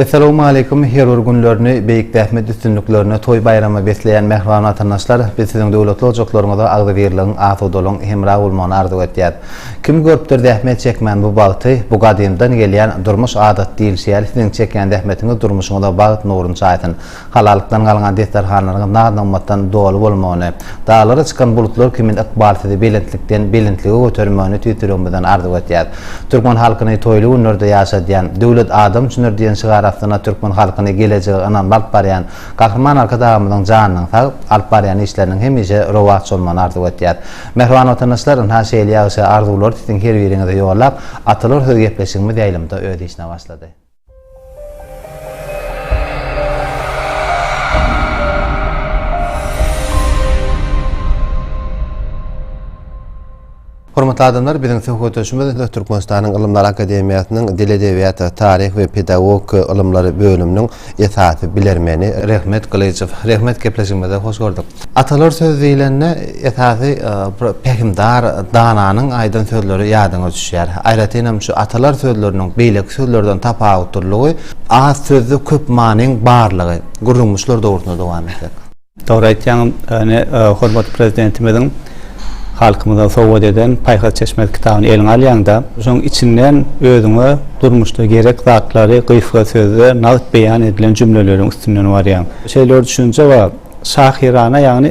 Essalawmaleýkum her bir günlerini beýik zähmet üstünliklerine toý baýrama besleýän mähriban watandaşlar biz siziň döwletli ojaklaryňyza agzybirligiň asudalygyň hemra bolmagyny arzuw etýäs kim görüpdir zähmet çekmän bu bagty bu gadymdan gelýän durmuş adat diýilşi ýaly siziň çekýän zähmetiňiz durmuşyňyza bagt nurun çaýsyn Halallykdan galňan desterhanlaryňyz naz-nygmatdan doly bolmagyny, daglara çykan bulutlar kimin ykbal sizi belentlikden belentlige götermegini tüýs ýüregimizden arzuw etýäs. Türkmen halkyny toýly günlerde ýaşadýan, Döwlet adam üçindir diýen şygar astyna türkmen halkyny gelejege ynamly alyp barýan Gahryman Arkadagymyzyň janynyň sag, alyp barýan işleriniň hemişe rowaç bolmagyny arzuw etýäs. Mähriban Watandaşlar, ynha şeýle ýagşy arzuwlary siziň her biriňize ýollap, atalar söz gepleşigimiz ýaýlymda öz işine başlady. Hormatly adamlar, biziň söhbetdeşimiz Türkmenistanyň Ylymlar akademiýasynyň Dil edebiýat, taryh we pedagogika ylymlary bölüminiň esasy bilermeni Rehmet Gylyjow. Rehmet, gepleşigimize hoş gördük. Atalar söz diýlende, esasy bir pähimdar dananyň aýdan sözleri ýadyňa düşýär. Aýratyn hem şu atalar sözleriniň beýleki sözlerden tapawutlylygy az sözde köp manyň barlygy. Gürrüňimiz şular dogrusynda dowam etsek. Dogry aýtýaň, ine hormatly Prezidentimiziň halkymyza sowgat eden Paýhas çeşmesi kitabyny eliňe alýaňda, şonuň içinden özüňe durmuşda gerek zatlary gysga sözde nagt beýan edilen jümleleriň üstünden barýaň. Şeýle bir düşünje bar. Şahyrana ýagny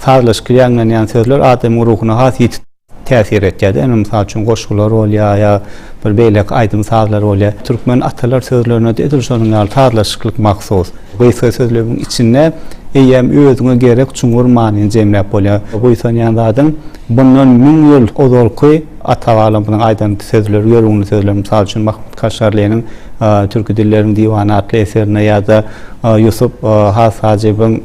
sazlaşykly ýaňlanýan sözler adamyň ruhuna has ýiti täsir etýär-de. Indi mysal üçin goşgular bolýar ýa bir beýleki aýdym-sazlar bolýar. Türkmen atalar sözlerine-de edil şonuň ýaly sazlaşyklyk mahsus. Gysga sözlewiň içinde eýýäm özüňe gerek çuňňur manyny jemläp bolýar. Buýsanýan zadyň Bundan müň ýyl ozalky ata-babalarymyzyň aýdan sözleri, ýörgünli sözleri, mysal üçin, Mahmut Kaşgarlynyň Türki dilleriň diwany atly eserinde ýa-da Ýusup has Hajybyň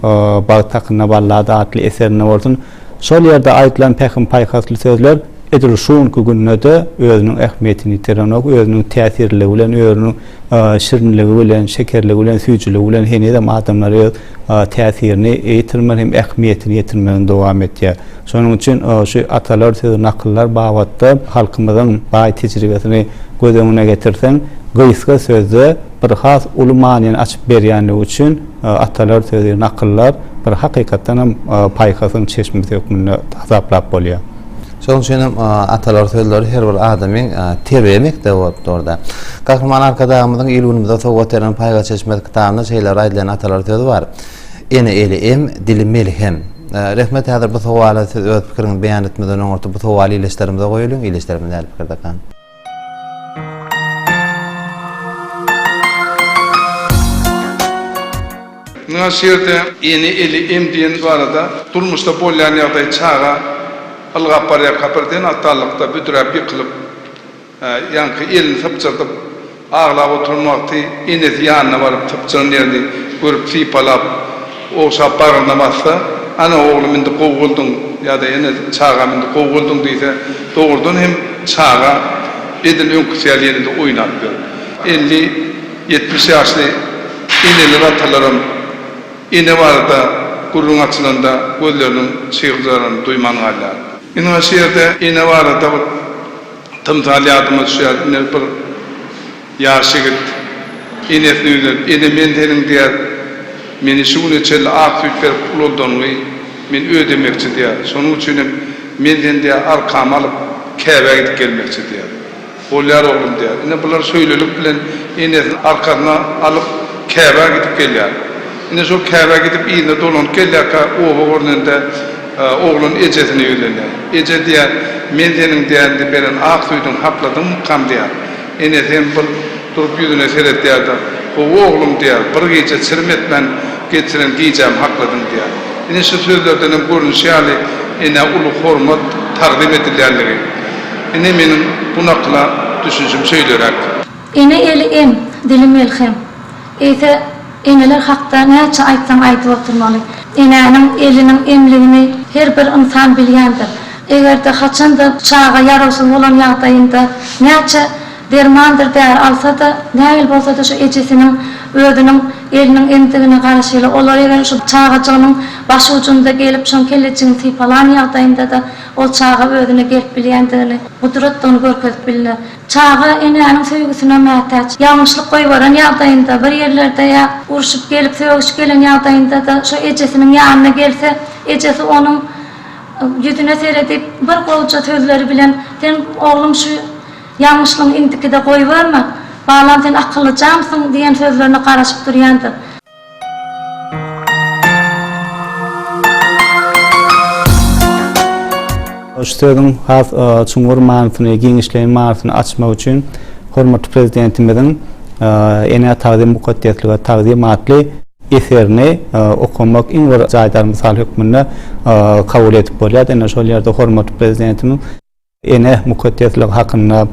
Bagt hakynda ballada atly eserinde bolsun, şol ýerde aýdylan pähim-paýhasly sözler edil şu günki günde-de özüniň ähmiýetini ýitirenok, özüniň täsirliligi bilen, özüniň şirinligi bilen, şekerligi bilen, süýjüligi bilen henizem adamlary öz. täsirini ýitirmän hem ähmiýetini ýitirmegini dowam etýär. Şonuň üçin şu atalar sözi, nakyllar babatda halkymyzyň baý tejribesini göz öňüne getirseň, gysga sözde bir has uly manyny açyp berýänligi üçin atalar sözi, nakyllar bir hakykatdan hem paýhasyň çeşmesi hökmünde hasaplap bolýar. Şonuň üçin hem atalar sözleri her bir adamyň terbiýe mekdebi bolup dur-da. Gahryman Arkadagymyzyň il-günümize sowgat eden Paýhas çeşmesi kitabynda şeýle aýdylýan atalar sözi bar, Ene eli em, dili melhem. Rehmet häzir bu sowala siz öz pikiriňizi beýan etmeden öňürti bu sowaly ildeşlerimize goýulyň, ildeşlerimiz nädip pikirdekan? Mundan şu ýerde Ene eli em diýen barada durmuşda bolýan ýagdaý çaga ylgap barýarka birden atalykda büdräp ýykylyp ýaňky elini sypjyrdyp Aglap oturan wagty enesi ýanyna baryp sypjyran ýerini görüp sypalap, ogşap bagryna bassa, Ana, oglum indi gowy bolduň! ýa-da Ene, çagam indi gowy bolduň! diýse, dogrudan hem çaga edil öňküsi ýaly ýene-de oýnap ýör. Elli, ýetmiş ýaşly eneler, atalaram ene barada gürrüň açylanda gözleriniň çygyrdaranyny duýman galýar. Ine, şu ýerde ene barada bir Tymsal ýadyma düşýär. Ine, bir ýaş ýigit enesine ýüzlenip, Ene, men seniň diýýär, meni şu güne çenli ak süýt berip ulaldaňňy men ödemekçi diýýär. Şonuň üçin hem men seni diýýär, arkama alyp, Käbä gidip gelmekçi diýýär. Bolýar, oglum diýýär. Ine, bular şeýlelik bilen enesini arkasyna alyp, Käbä gidip gelýär. Ine, şol Käbä gidip yzyna dolanyp gelýärkä, oba görnende, Oglan ejesine ýüzlenýär. Eje diýýär, Men seniň dände beren ak süýdüňi hapladymmykam diýýär. Enesi hem bir durup ýüzüne seredýär-de, Gowy oglum diýýär, bir gije çirim etmän geçiren gijämi hakladyň diýýär. Ine şu sözlerden hem görnüşi ýaly enä uly hormat, tagzym edilýändigi. Ine meniň bu nakyla düşünşim şeýleräk. Ene eli em, dili melhem. Eýse, eneler hakda näçe aýtsaň aýdyp oturmaly. Enäniň eliniň emligini her bir ynsan bilýändir. Eger-de haçan-da çaga ýarawsyz bolan ýagdaýynda näçe dermandyr däri alsa-da, nähili bolsa-da şu ejesiniň özüniň eliniň emdigine garaşyly. Olar eger şu çagajygynyň başujunda gelip şoň kellejigini sypalan ýagdaýynda-da ol çaga özüne gelip bilýändigini, gudratdygyny görkezip bilner. Çaga enäniň söýgüsine mätäç. Ýalňyşlyk goýberen ýagdaýynda, bir ýerlerde ýa urşup gelip, sögüş gelen ýagdaýynda-da şo ejesiniň ýanyna gelse, ejesi onuň ýüzüne seredip, bir gowja sözleri bilen, Sen, oglum, şu ýalňyşlygyňy indikide goýberme. Balam, sen akyllyjamsyň diýen sözlerine garaşyp durýandyr. Şu sözüň has çuňňur manysyny, giňişleýin manysyny açmak üçin hormatly Prezidentimiziň Enä tagzym, mukaddeslige tagzym atly eserini okamak iň bir jaýdar mysal hökmünde kabul edip bolýar. Ine, şol ýerde hormatly Prezidentimiz. Ene mukaddesligi hakynda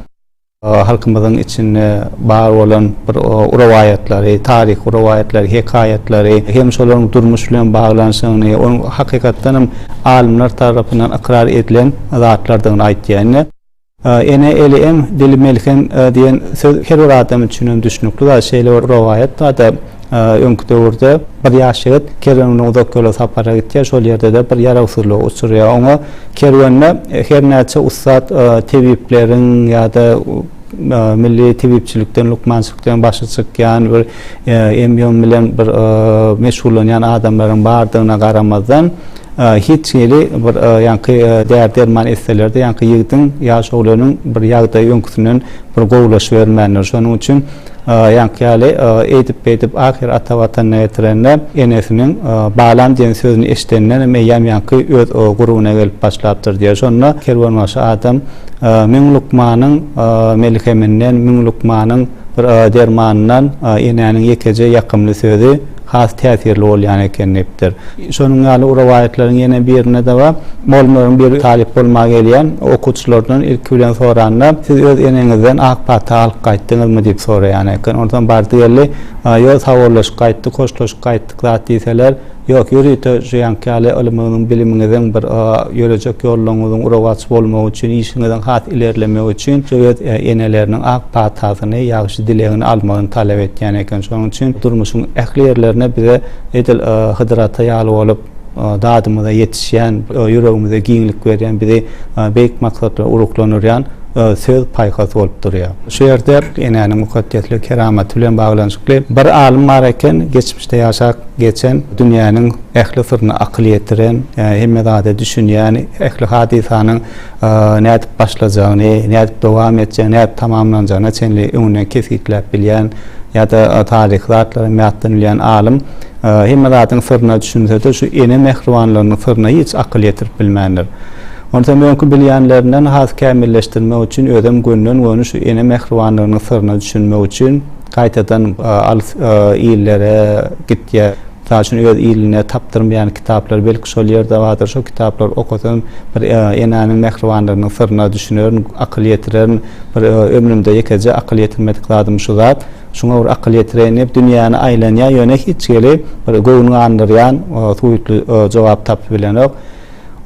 halkymyzyň içinde bar bolan bir rowaýatlary, taryhy rowaýatlary, hekaýatlary hem şolaryň durmuş bilen baglanyşygyny, onuň hakykatdan hem alymlar tarapyndan ykrar edilen zatlardygyny aýtýar. Indi Ene eli em, dili melhem diýen söz her bir adam üçin hem düşnükli zat. Şeýle bir rowaýat bardy. Öňki döwürde bir ýaş ýigit kerwenine uzak ýola sapara gitýär, şol ýerde-de bir ýarawsyzlygy uçurýar. Oňa kerwende her näçe ussat tebipleriň ýa-da milli tebipçilikden, lukmançylykdan başy çykýan, bir emýom bilen bir meşgullanýan adamlaryň bardygyna garamazdan, hiç hili bir ýaňky däri-derman etseler-de, ýaňky ýigdiň, ýaş oglanyň bir ýagdaýy öňküsinden bir gowulaşybermändir. Şonuň üçin Ýaňky ýaly eýdip-beýdip ahyr ata Watanyna getirende, enesiniň Balam diýen sözüni eşidendenem eýýäm ýaňky öz gurubyna gelip başlapdyr diýer. Şonda kerwenbaşy adam Müň lukmanyň melheminden, müň lukmanyň bir dermanyndan enäniň ýekeje ýakymly sözi, has täsirli bolýan eken diýipdir. Şonuň ýaly bu rowaýatlaryň ýene birinde-de bar. Mugallymlaryň biri talyp bolmaga gelýän okuwçylardan ilki bilen soranda, Siz öz eneňizden ak pata alyp gaýtdyňyzmy? diýip soraýan eken. Onsoň bardy-geldi, Ýok, sawollaşyp gaýtdyk, hoşlaşyp gaýtdyk zat diýseler, Ýok, ýörite şu ýaňky ýaly ylymyňyzyň, bilimiňiziň bir ýörejek ýollaryňyzyň rowaç bolmagy üçin, işiňiziň has ilerlemegi üçin şu öz eneleriniň ak patasyny, dilegini almagyny talap etýän eken. Şonuň üçin durmuşyň ähli ýerlerine bize edil Hydyr ata ýaly bolup, dadymyza ýetişýän, ýüregimize giňlik berýän, bizi beýik maksatlara uruklandyrýan söz paýhas bolup durýar. Şu ýerde Enäniň mukaddeslik keramaty bilen baglanyşykly bir alym bar eken, geçmişde ýaşap geçen, dünýäniň ähli syryna akyl ýetiren, hemme zada düşünýän, ähli hadysanyň nädip başlajagyny, nädip dowam etjegini, nädip tamamlanjagyna çenli öňünden kesgitläp bilýän ýa-da taryhy zatlara mätden bilýän alym hemme zadyň syryna düşünse-de, şu ene mähribanlygynyň syryna hiç akyl ýetirip bilmändir. Onsam öňki bilýänlerinden has kämilleşdirmek üçin özem gönden-göni şu ene mähribanlygynyň syryna düşünmek üçin gaýtadan alys illere gitýär. Mysal üçin, öz iline tapdyrmaýan kitaplar belki şol ýerde bardyr. Şo kitaplary okasam, bir enäniň mähribanlygynyň syryna düşünerin, akyl ýetirerin. Bir ömrümde ýekeje akyl ýetirmedik zadym şu zat. Şuňa bir akyl ýetireýin diýip, dünýäni aýlanýar, ýöne hiç hili bir göwün gandyrýan, suwutly jogap tapyp bilenok.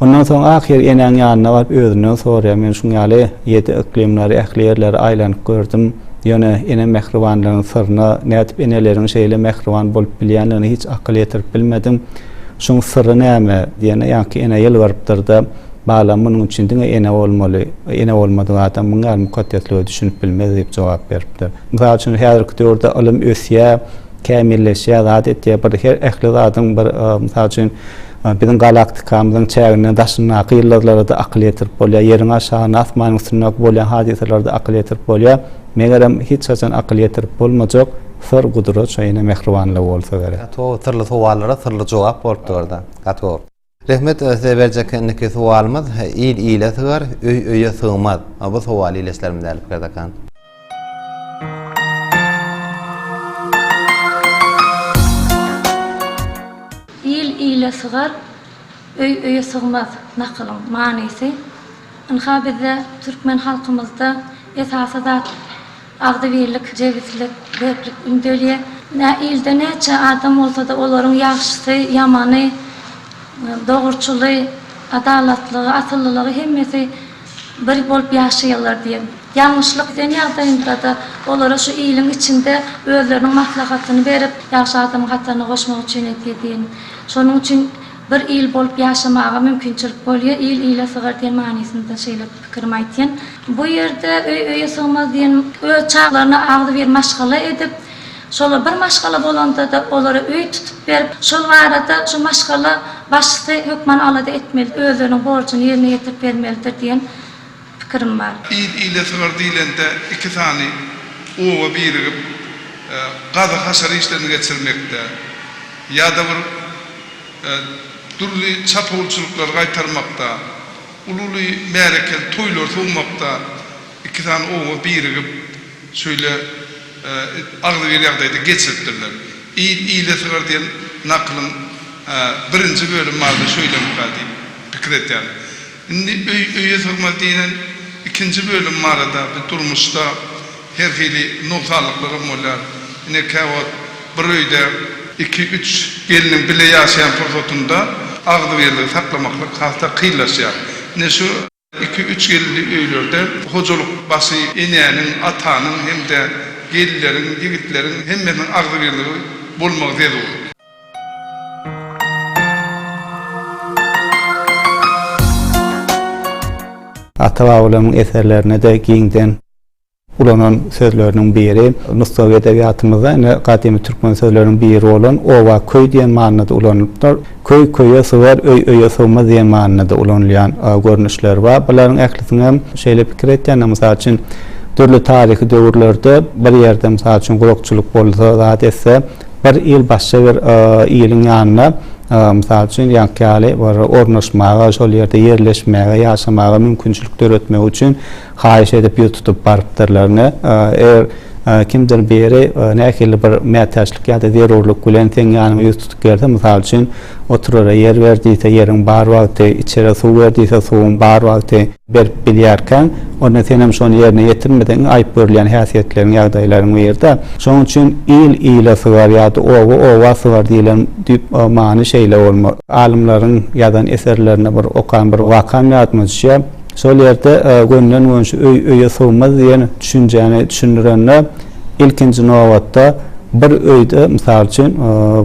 Ondan soň ahyr enäň ýanyna baryp özünden soraýar, men şuň ýaly ýedi yklymlary, ähli ýerleri aýlanyp gördüm, ýöne ene mähribanlygynyň syryna nädip eneleriň şeýle mähriban bolup bilýänligine hiç akyl ýetirip bilmedim. Şuň syry näme? diýende, ýaňky ene ýylgyrypdyr-da, Balam, munuň üçin diňe ene bolmaly, ene bolmadyk adam muň ýaly mukaddeslige düşünip bilmez diýip jogap beripdir. Mysal üçin, häzirki döwürde ylym ösýär, kämilleşýär, zat etýär, bir her ähli zadyň bir, mysal üçin, Biziň galaktikamyzyň çäginden daşyndaky ýyldyzlara-da akyl ýetirip bolýar, Ýeriň aşagynda, asmanyň üstünde bolýan hadysalara-da akyl ýetirip bolýar. Megerem, hiç haçan akyl ýetirip bolmajak syr gudrat şo ýene mähribanlygy bolsa gerek. Gaty gowy syrly sowallara syrly jogap bolupdyrda. Gaty gowy. Rehmet size berjek indiki sowalymyz Il ile sygar, öý öýe sygmaz. Bu sowal ileslerimiz däli Pikerdakan. Il ile sygar, öý öýe sygmaz nakylyň manysy ynha bizde türkmen halkymyzda esasy zat agzybirlik, jebislik, berklik ündelýär. Nä ilde näçe adam bolsada olaryň ýagşysy, ýamany, dogruçyly, adalatlygy, asyllylygy hemmesi bir bolup ýaşaýarlar diýen Ýalňyşlyk eden ýagdaýyndrada olara şu iliň içinde özleriniň maslahatyny berip, ýagşy adamyň hataryna goşmak üçin etýä diýen. Şonuň üçin bir il bolup ýaşamaga mümkinçilik bolýa, il ile sygar diýen manysynda şeýle pikirimi aýtýan. Bu ýerde öý öýe sygmaz diýen öz çaglaryna agzybir maşgala edip, şolar bir maşgala bolandada olara öý tutup berip, şol arada şu maşgala başysy hökman alada etmeli, özleriniň borjuny ýerine ýetirip bermelidir diýen pikirim bar. Il ile sygar diýlende iki sany oba birigip gazyk-haşar işlerini geçirmekde ýa-da bir dürli çapawulçylyklary gaýtarmakda, uly-uly märekeli toýlary sowmakda iki sany oba birigip şöýle agzybir ýagdaýda geçiripdirler. Il ile sygar diýen nakylyň birinji bölüm barada şöýleňka diýip pikir edýärin. Indi öý öýe sygmaz diýlen ikinji bölüm barada biz durmuşda her hili nogsanlyklarym bolýar. Ine käwagt bir öýde. Iki üç gelniň bile ýaşaýan pursatynda agzybirligi saklamaklyk hasda kynlaşýar. Ine şu. Iki üç gelinli öýlerde hojalyk başy enäniň, atanyň hem-de gelinleriň, ýigitleriň hemmesiniň agzybirligi bolmagy zerur. Ata-babalarymyň eserlerinde-de giňden ulanan sözleriniň biri, nusgawy edebiýatymyzda ine gadymy türkmen sözleriniň biri bolan oba, köý diýen manyda ulanylypdyr. Köý köýe sygar, öý öýe sygmaz diýen manyda ulanylýan görnüşleri bar. Bularyň ählisini hem şeýle pikir etýändir, mysal üçin, dürli taryhy döwürlerde bir ýerde, mysal üçin, gurakçylyk bolsa, zat etse, Bir il başga bir iliň ýanyna, mysal üçin, ýaňky ýaly bir ornaşmaga, şol ýerde ýerleşmäge, ýaşamaga mümkinçilik döretmek üçin haýyş edip, ýüz tutup barypdyrlar. Ine, eger kimdir biri nähili bir mätäçlik ýa-da zerurlyk bilen seň ýanyňa ýüz tutup gelse, mysal üçin, oturara ýer ber diýse, ýeriň bar wagty, içere suw ber diýse, suwuň bar wagty, berip bilýärkäň, onda senem şony ýerine ýetirmeseň aýyp görülýän häsiýetleriň, ýagdaýlaryň biri-de. Şonuň üçin il ile sygar ýa-da oba oba sygar diýlen düýp many şeýle bolmaly. Alymlaryň ýazan eserlerinde bir okan bir wakam ýadyma düşýär. Şol ýerde gönüden-gönşi öý öýe sygmaz diýen düşünjäni düşündirende, Ilkinji nobatda bir öýde, mysal üçin,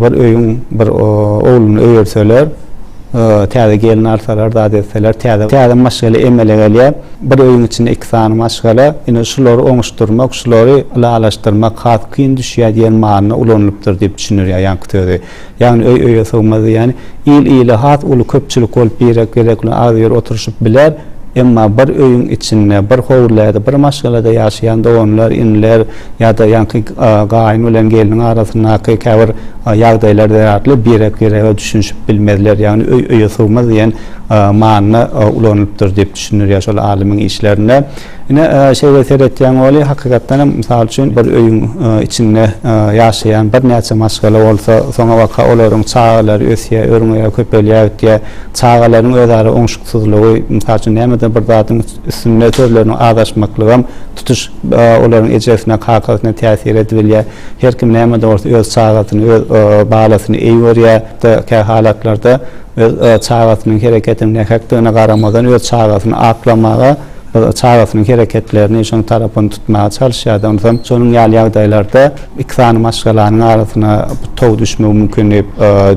bir öýüň bir ogluny öýerseler, täze gelin alsalar, zat etseler, täze, täze maşgala emele gelýär. Bir öýüň içinde iki sany maşgala, ine, şulary oňuşdyrmak, şulary ylalaşdyrmak has kyn düşýär diýen manyda ulanylypdyr diýip düşündirýär ýaňky sözi. Ýagny öý öýe sygmaz diýýäni, il ile has uly köpçülik bolup birek gezek bilen az ýer oturyşyp biler, emma bir öýüň içinde, bir howlyda, bir maşgalada ýaşaýan doganlar, iniler ýa-da ýaňky gaýyn bilen gelniň arasyndaky käbir ýagdaýlar zerarly birek birege düşünişip bilmezler. Ýagny öý öýe sygmaz diýen manyda ulanylypdyr diýip düşündirýär şol alymyň işlerinde. Ine, şeýle seretýäň Oly, hakykatdan hem, mysal üçin, bir öýüň içinde ýaşaýan birnäçe maşgala bolsa, soňabaka olaryň çagalary ösýär, örňeýär, köpelýär gidýär. Çagalaryň özara oňşuksyzlygy, mysal üçin, nämedir bir zadyň üstünde sözleriniň azaşmaklygam tutuş olaryň ejesine, kakasyna täsir edibilýär. Her kim näme-de bolsa öz çagasyny, öz balasyny eý görýär. Hatda kä halatlarda öz çagasynyň hereketiniň nähakdygyna garamazdan öz çagasyny aklamaga, Çagasynyň hereketlerini, şonuň tarapyny tutmaga çalyşýardy. Onsoň şonuň ýaly ýagdaýlarda iki sany maşgalanyň arasyna bir tow düşmegi mümkin diýip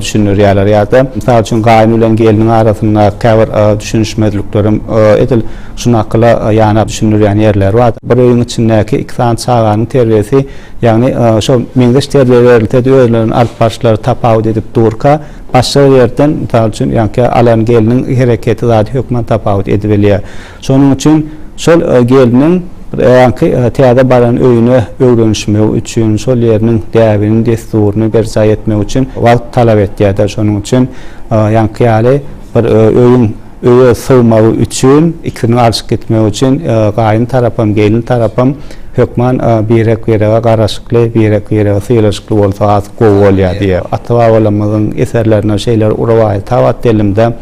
düşündirýärler. Ýa-da, mysal üçin, gaýyn bilen gelniň arasynda käbir düşünişmezlikler hem edil şu nakyla ýanap düşündirýän ýerleri bar. Bir öýüň içindäki iki sany çaganyň terbiýesi, ýagny şol meňzeş terbiýe berilse-de, özleriniň alyp baryşlary tapawut edip durka, Başga bir ýerden, mysal üçin, ýaňky alan gelniň hereketi zady hökman tapawut edibilýär. Şonuň üçin şol gelniň ýaňky täze baran öýüne öwrenişmegi üçin, şol ýeriniň däbini, dessuryny berjaý etmek üçin wagt talap etýär-de. Şonuň üçin ýaňky ýaly bir öýüň. Öýe sygmagy üçin, ikisiniň alşyp gitmegi üçin gaýyn tarapam, gelin tarapam hökman birek-birege garaşykly, birek-birege sylaşykly bolsa has gowy bolýar diýýär. Ata-babalarymyzyň eserlerinde şeýle rowaýat ha bar dilimde,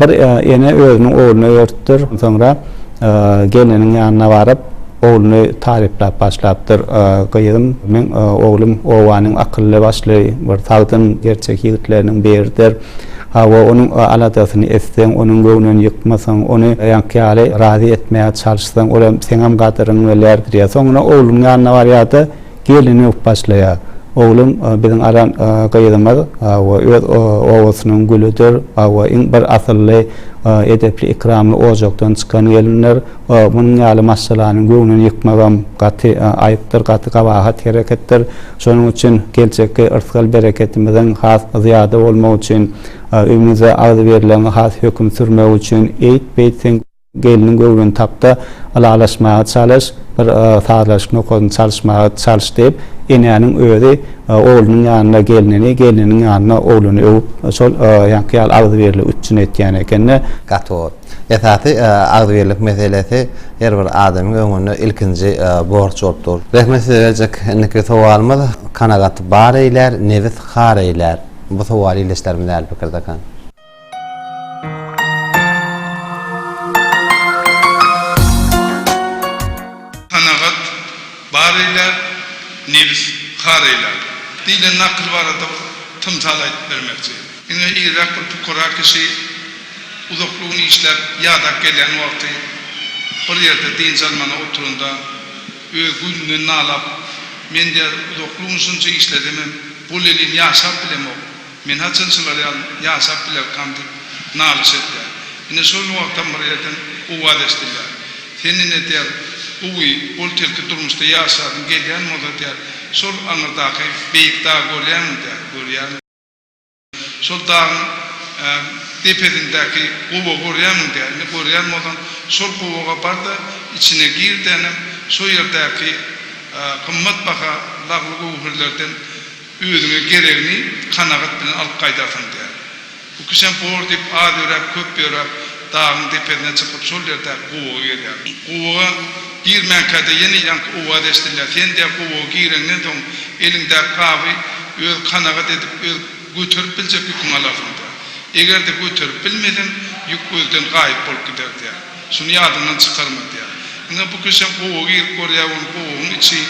Bir ene özüniň ogluna öýertipdir. Soňra gelniniň ýanyna baryp, ogluny taryplap başlapdyr. Gyzym, meň oglum obanyň akylly-başly, bir sagdyn, gerçek ýigitleriniň biridir. Hawa, onuň aladasyny etseň, onuň göwnüni ýykmasaň, ony ýaňky ýaly razy etmäge çalyşsaň, ol hem seňem gadyryňy bilýärdir ýa. Soňra oglunyň ýanyna barýar-da, gelin öwüp başlaýar. Oglum, biziň alan gyzymyz, hawa, öz obasynyň gülüdir, hawa, iň bir asylly, edepli-ikramly ojakdan çykan gelindir. Munuň ýaly maşgalanyň göwnüni ýykmagam gaty aýypdyr, gaty gabahat hereketdir. Şonuň üçin geljekki yrsgal bereketimiziň has zyýada bolmagy üçin, öýümize agzybirligiňi has höküm sürmegi üçin eýt-beýt sen gelniň göwnüni tap-da, ylalaşmaga çalyş, bir sazlaşyk nokadyny çalyşmaga çalyş diýip, enäniň özi oglunyň ýanynda gelnini, gelniniň ýanynda ogluny öwüp, şol ýaňky ýaly agzybirligi üpjün etýän eken-de. Gaty gowy. Esasy agzybirlik meselesi her bir adamyň öňünde ilkinji borç bolup dur. Rehmet size berjek indiki sowalymyz Kanagat bar eýlär, nebis har eýlär. Bu sowal ildeşlerimiz äli pikirdekä. Kanagat bar eýlär, nebis har eýlär. Diýlen nakyl barada bir tymsal aýdyp bermekçi. Diňe irräk bir pukara kişi Uzakly gün işläp, ýadap gelýän wagty bir ýerde dynç almana oturanda, öz güýnünden nalap, Men, diýýär, uzakly gün şunça işledimem, bu lelin ýaşap bilemok. Men haçan şular ýaly ýaşap bilerkam diýip, nalyş edýär. Ine, şol wagtam bir ýerden owaz eşidilýär. Sen, ine, diýýär, gowy, bol-telki durmuşda ýaşadyň gelýän bolsa, diýýär, şol aňyrdaky beýik dagy görýäňmi, diýýär. Görýärin. Şol dagyň depesindäki gowa görýämiň diýýär. Indi görýän bolsaň, şol gowaga bar-da, içine gir-de, inem, şo ýerdäki gymmatbaha lagly-göwherlerden özüňe geregini kanagat bilen alyp gaýdarsyň diýýär. Bu kişem bor diýip, az ýöräp, köp ýöräp, dagyň depesine çykyp, şol ýerdäki gowaga gelýär. Gowaga Girmänkä-de ýene ýaňky owaz eşidilýär. Sen-de gowaga gireňden soň, eliňdäki gaby öz kanagat edip, öz göterip biljek ýüküňi alarsyň-da. Eger-de göterip bilmeseň, ýük gözden gaýyp bolup gider diýýär. Şuny ýadyňdan çykarma diýýär. Ine, bu kişem gowaga girip görýär, onuň gowagyň içi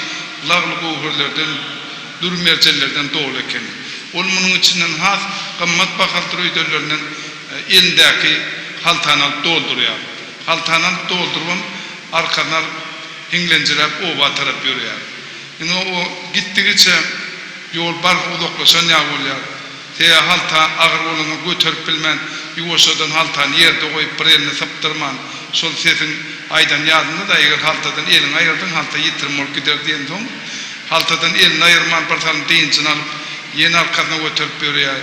lagly-göwherlerden, dür-merjenlerden doly eken. Ol munuň içinden has gymmat bahaly dürüýderlerinden elindäki haltany alyp doldurýar. Haltanam doldurybam, arkasyny alyp, hiňlenjiräp oba tarap ýörýär. Ine, o gitdigiçe ýol barha uzaklaşan ýaly bolýar. Seýa halta agyr bolanda göterip bilmän, ýuwaşjadan haltany ýerde goýup, bir elini sypdyrman, şol sesiň aýdany ýadynda-da, eger haltadan eliňi aýyrdyň, halta ýitirim bolup gider diýensoň, haltadan elini aýyrman, birsalym dynjyny alyp, ýene arkasyna göterip ýörýär.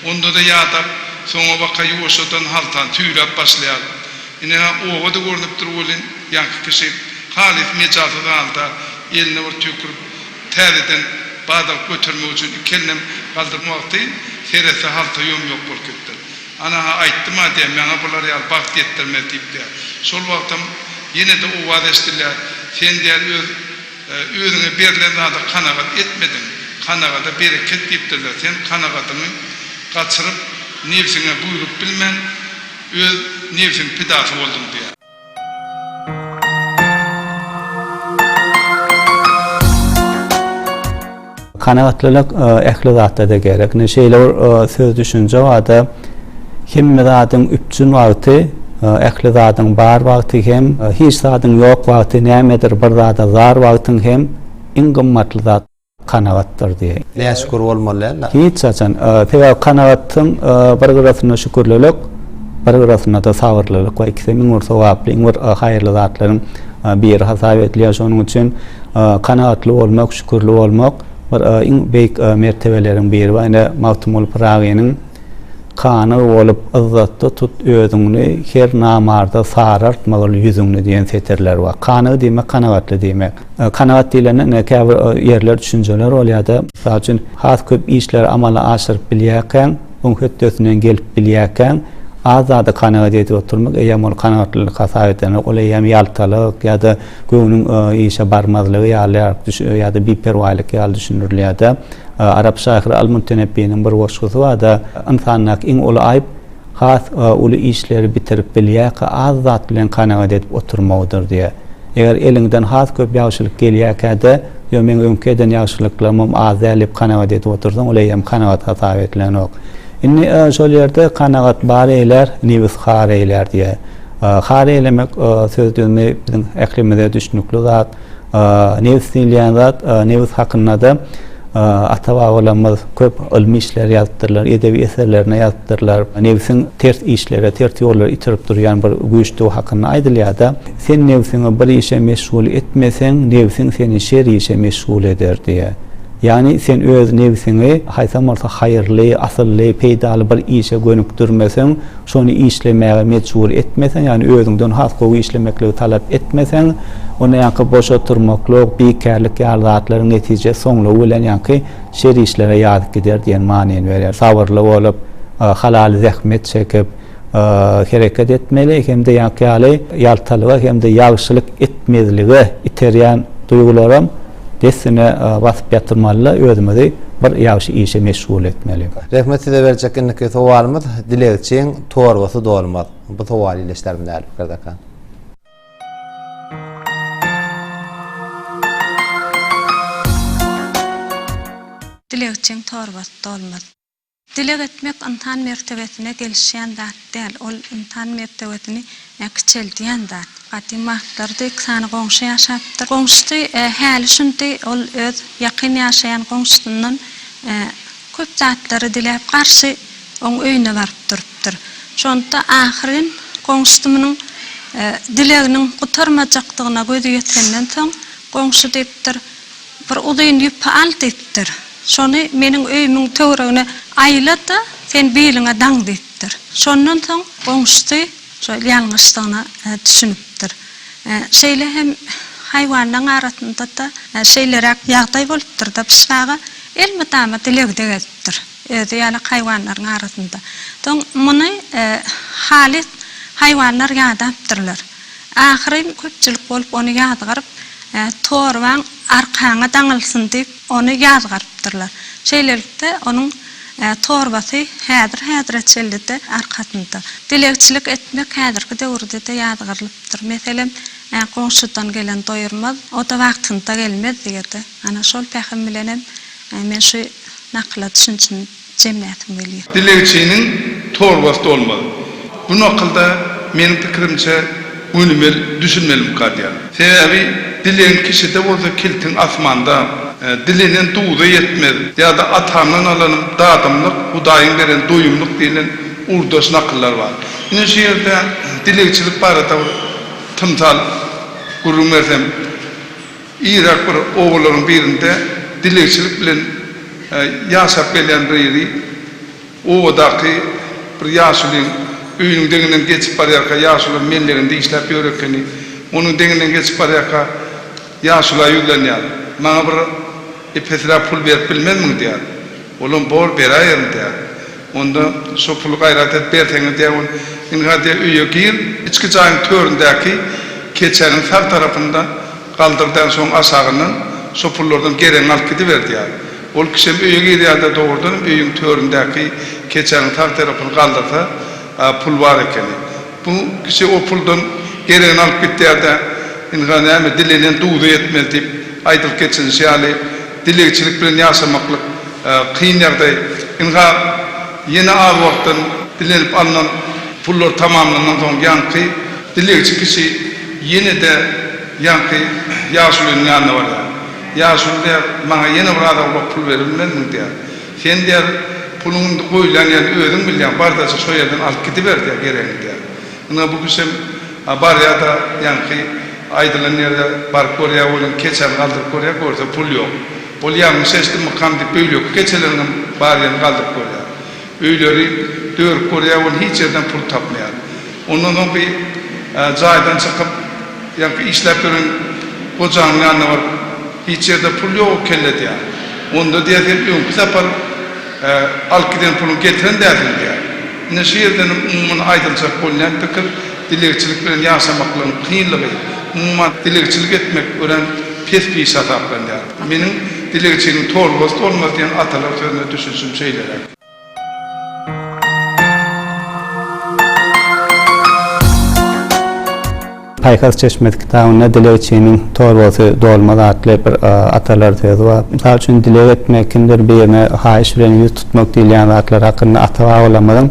Onda-da ýadap, soňabaka ýuwaşjadan haltan tüýläp başlaýar. Ine-hä, oba-da görnüp dur welin, ýaňky kişi halys mejalsyz halda, eline bir tüýkürip, täzeden badagyp götermek üçin iki elinem galdyrma wagty, seretse, halta ýom-ýok bolup gitipdir. Ana-ha, aýtdym-a diýýär, Maňa bular ýaly bagt ýetdirmez diýip diýýär. Şol wagtam ýene-de owaz eşidilýär, Sen, diýýär, öz. Özüňe berlen zada kanagat etmediň. Kanagada bereket diýipdirler. Sen kanagadyňy gaçyryp, nebsiňe buýrup bilmän, öz nebsiň pidasy bolduň diýýär. Kanagatlylyk ähli zatda-da gerek. Ine, şeýle bir söz-düşünje bar-da, Hemme zadyň üpjün wagty, ähli zadyň bar wagty hem, hiç zadyň ýok wagty, nämedir bir zada zar wagtyň hem iň gymmatly zat kanagatdyr diýýär. Näşükür bolmaly däldir. Hiç haçan. Sebäbi kanagatyň bir gyrasynda şükürlilik, bir gyrasynda-da sabyrlylyk bar. Ikisem iň bir sogaply, iň bir haýyrly zatlaryň. biri hasap edilýär. Şonuň üçin kanagatly bolmak, şükürli bolmak bir iň beýik mertebeleriň biri. Wa ine Magtymguly Pyragynyň Kanygy bolup yzzatda tut özüňni, Her namarda sarartmagil ýüzüňni diýen setirleri bar. Kanygy diýmek kanagatly diýmek. Kanagat diýlende ine käbir ýerler düşünjeler bolýar-da. Mysal üçin has köp işleri amala aşyryp bilýärkäň, Oň hötdesinden gelip bilýärkäň, az zady kanagat edip oturmak, eýýäm ol kanagatlylyk hasap edilmez. Ol eýýäm ýaltalyk ýa-da göwnüň işe barmazlygy ýalyrak ýa-da biperwaýlyk ýaly düşündirilýär-de. Arap şahyry Al-Mutenebbiýniň bir goşgusy bar-da, Ynsandaky iň uly aýp has uly işleri bitirip bilýärkä az zat bilen kanagat edip oturmagydyr diýýär. Eger eliňden has köp ýagşylyk gelýärkä-de, ýo meň öňki eden ýagşylyklarymam az däl diýip kanagat edip otursaň, ol eýýäm kanagat hasap edilenok. Indi şol ýerde kanagat bar eýlär, nebis har eýlär diýýär. Har eýlemek söz düzümi biziň ählimize düşnükli zat. Nebis diýilýän zat, nebis hakynda-da ata-babalarymyz köp ylmy işler ýazypdyrlar, edebi eserlerinde ýazypdyrlar. Nebsiň ters işlere, ters ýollara itirip durýan bir güýçdügi hakynda aýdylýar-da. Sen nebsiňi bir işe meşgul etmeseň, nebsiň seni şer işe meşgul eder diýýär. Ýagny sen öz nebsiňi haýsam bolsa haýyrly, asylly, peýdaly bir işe gönükdirmeseň, şony işlemäge mejbur etmeseň, ýagny özüňden has gowy işlemekligi talap etmeseň, onda ýaňky boş oturmaklyk, bikärlik ýaly zatlaryň netijesi soňlugy bilen ýaňky şer işlere ýazyp gider diýen manyny berýär. Sabyrly bolup, halaly zähmet çekip, hereket etmeli hem-de ýaňky ýaly ýaltalyga hem-de ýagşylyk etmezlige iterýän duýgularam dessine basyp ýatyrmaly-da, özümizi bir ýagşy işe meşgul etmeli. Rehmet size berjek indiki sowalymyz dilegçiň torbasy dolmaz. Bu sowaly ile işlärdim däl Firdaka. Dilegçiň torbasy dolmaz. Dileg etmek ynsan mertebesine gelişýän zat däl, ol ynsan mertebesini kiçeldýän zat. Gadym wagtlarda iki sany goňşy ýaşapdyr. Goňşusy häli-şindi ol öz ýakyn ýaşaýan goňşusyndan köp zatlary diläp, garşy oň öýüne baryp durupdyr. Şonda ahyryn goňşusy munuň dileginiň gutarmajakdygyna gözi ýetenden soň, goňşy diýipdir. Bir uzyn ýüpi al diýipdir. Şony meniň öýümiň töweregine aýla-da, sen biliňe daň diýipdir. Şondan soň goňşusy şol ýalňyşdygyna düşünipdir. Şeýle hem haýwanlaryň arasynda-da şeýleräk ýagdaý bolupdyr-da, Pyşşy aga elmydama dilegde gezipdir, özi ýaly haýwanlaryň arasynda. Soň muny halys haýwanlar ýadapdyrlar. Ahyryn köpçülik bolup ony ýazgaryp, Torbaň arkaňa daňylsyn diýip, ony ýazgarypdyrlar. Şeýlelikde, onuň torbasy häzir-häzire çenli-de arkasynda. Dilegçilik etmek häzirki döwürde-de ýazgarylypdyr. Meselem, Goňşudan gelen doýurmaz, o-da wagtynda gelmez diýerdi. Ana, şol pähim bilenem men şu nakyla düşünjini. Jemläsim gelýär. Dilegçiniň torbasy dolmaz. Bu nakylda meniň pikirimçe gönümel düşünmelim kazýar. Sebäbi dilegiň kişide bolsa kiltiň asmanda. Dilenen duza ýetmez ýa-da atamdan alanym dadymlyk, hudaýyň beren doýumlyk diýlen ugurdaş nakyllar bar. Ine şu ýerde dilegçilik barada bir tymsal gürrüň bersem. Yrak bir obalaryň birinde dilegçilik bilen ýaşap gelýän Reýri obadaky bir ýaşulyň öýüniň deňinden geçip barýarka ýaşula melleginde işläp ýör ekeni. Onuň deňinden geçip barýarka ýaşula ýüzlenýär. Maňa bir epesräk pul berip bilmezmiň diýýär. Olam bor beräýerin diýýär. Onda şo puly gaýrat et berseňiz diýýär ol. Indi hä diýýär öýe gir, içki jaýyň töründäki keçäniň sag tarapynda galdyr däl şoň aşagyndan şo pullardan geregiňi alyp gidiber diýýär. Ol kişem öýe girýärde dogrudan hem öýüň töründäki keçäniň sag terapyny galdyrsa pul bar ekeni. Bu kişi o puldan geregini alyp gitýärde indi hä näme dilenen duza ýetmez diýip aýdylyp geçilişi ýaly, Dilegçilik bilen ýaşamaklyk kyn ýagdaý. Ynha, ýene az wagtdan dilenip alnan pullar tamamlandan soň ýaňky dilegçi kişi ýene-de ýaňky ýaşulynyň ýanyna barýar. Ýaşuly diýýär, Maňa ýene bir az awlak pul berilmezmi? diýýär. Sen, diýýär, puluň indi goýlan ýerini özüň bilýäň, bar-da, şo ýerden alyp gidiber, diýýär, geregiňi, diýýär. Ynha bu kişem barýada ýaňky aýdylan ýere baryp görýä welin keçäni galdyryp görýä görse pul ýok. Ol ýalňyş eşdimmikam diýip beýleki keçeleriňem baryany galdyryp görýä. Öýleri dörüp görýä welin hiç ýerden pul tapmaýa. Ondan soň bir jaýdan çykyp ýaňky işläp ýören gojanyň ýanyna baryp hiç ýerde pul ýok ekellidýä. Onda diýä sen öňki sapar. Alyp giden puluň getiren däldigini diýýär. Ine şu ýerden umuman aýdyljak bolýan pikir dilegçilik bilen ýaşamaklygyň kynlygy, umuman dilegçilik etmek örän pes iş hasaplanýar. Meniň Dilegçiniň torbasy tolmaz diýen atalar sözüne düşünişim şeýleräk. Paýhas çeşmesi kitabynda dilegçiniň torbasy dolmaz atly bir atalar sözi bar. Mysal üçin, dileg etmek, kimdir birine haýyş bilen ýüz tutmak diýilýän zatlar hakynda ata-babalarymyzam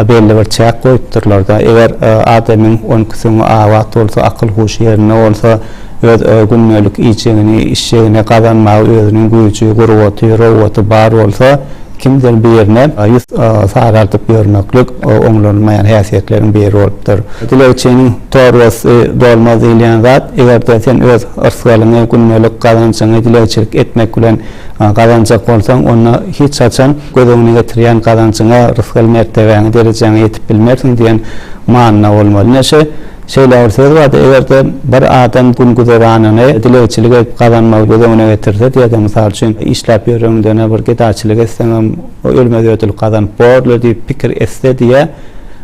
belli bir çäk goýupdyrlar-da. Eger adamyň öňküsüňi abat bolsa, akyl-huşy ýerinde bolsa, öz gündelik iýjegini, içjegini gazanmaga özüniň güýji, gurbaty, rowgaty bar bolsa, Kimdir birine ýüz sagardyp ýörmeklik oňlanylmaýan häsiýetleriň biri bolupdyr. Dilegçiniň torbasy dolmaz diýilýän zat, eger-de sen öz yrsgalyňy, gündelik gazanjyňy dilegçilik etmek bilen gazanjak bolsaň, onda hiç haçan göz öňüne getirýän gazanjyňa, rysgal mertebäňe, derejäňe ýetip bilmersiň diýen manyda bolmaly. Neşe Şeýle bir söz bardy, Eger-de bir adam gün-güzeranyny dilegçilik edip gazanmagy göz öňüne getirse diýse, mysal üçin, işläp ýöreňden-ä bir gedaçylyk etseňem, ölmez ödül gazanyp borly diýip pikir etse diýýär.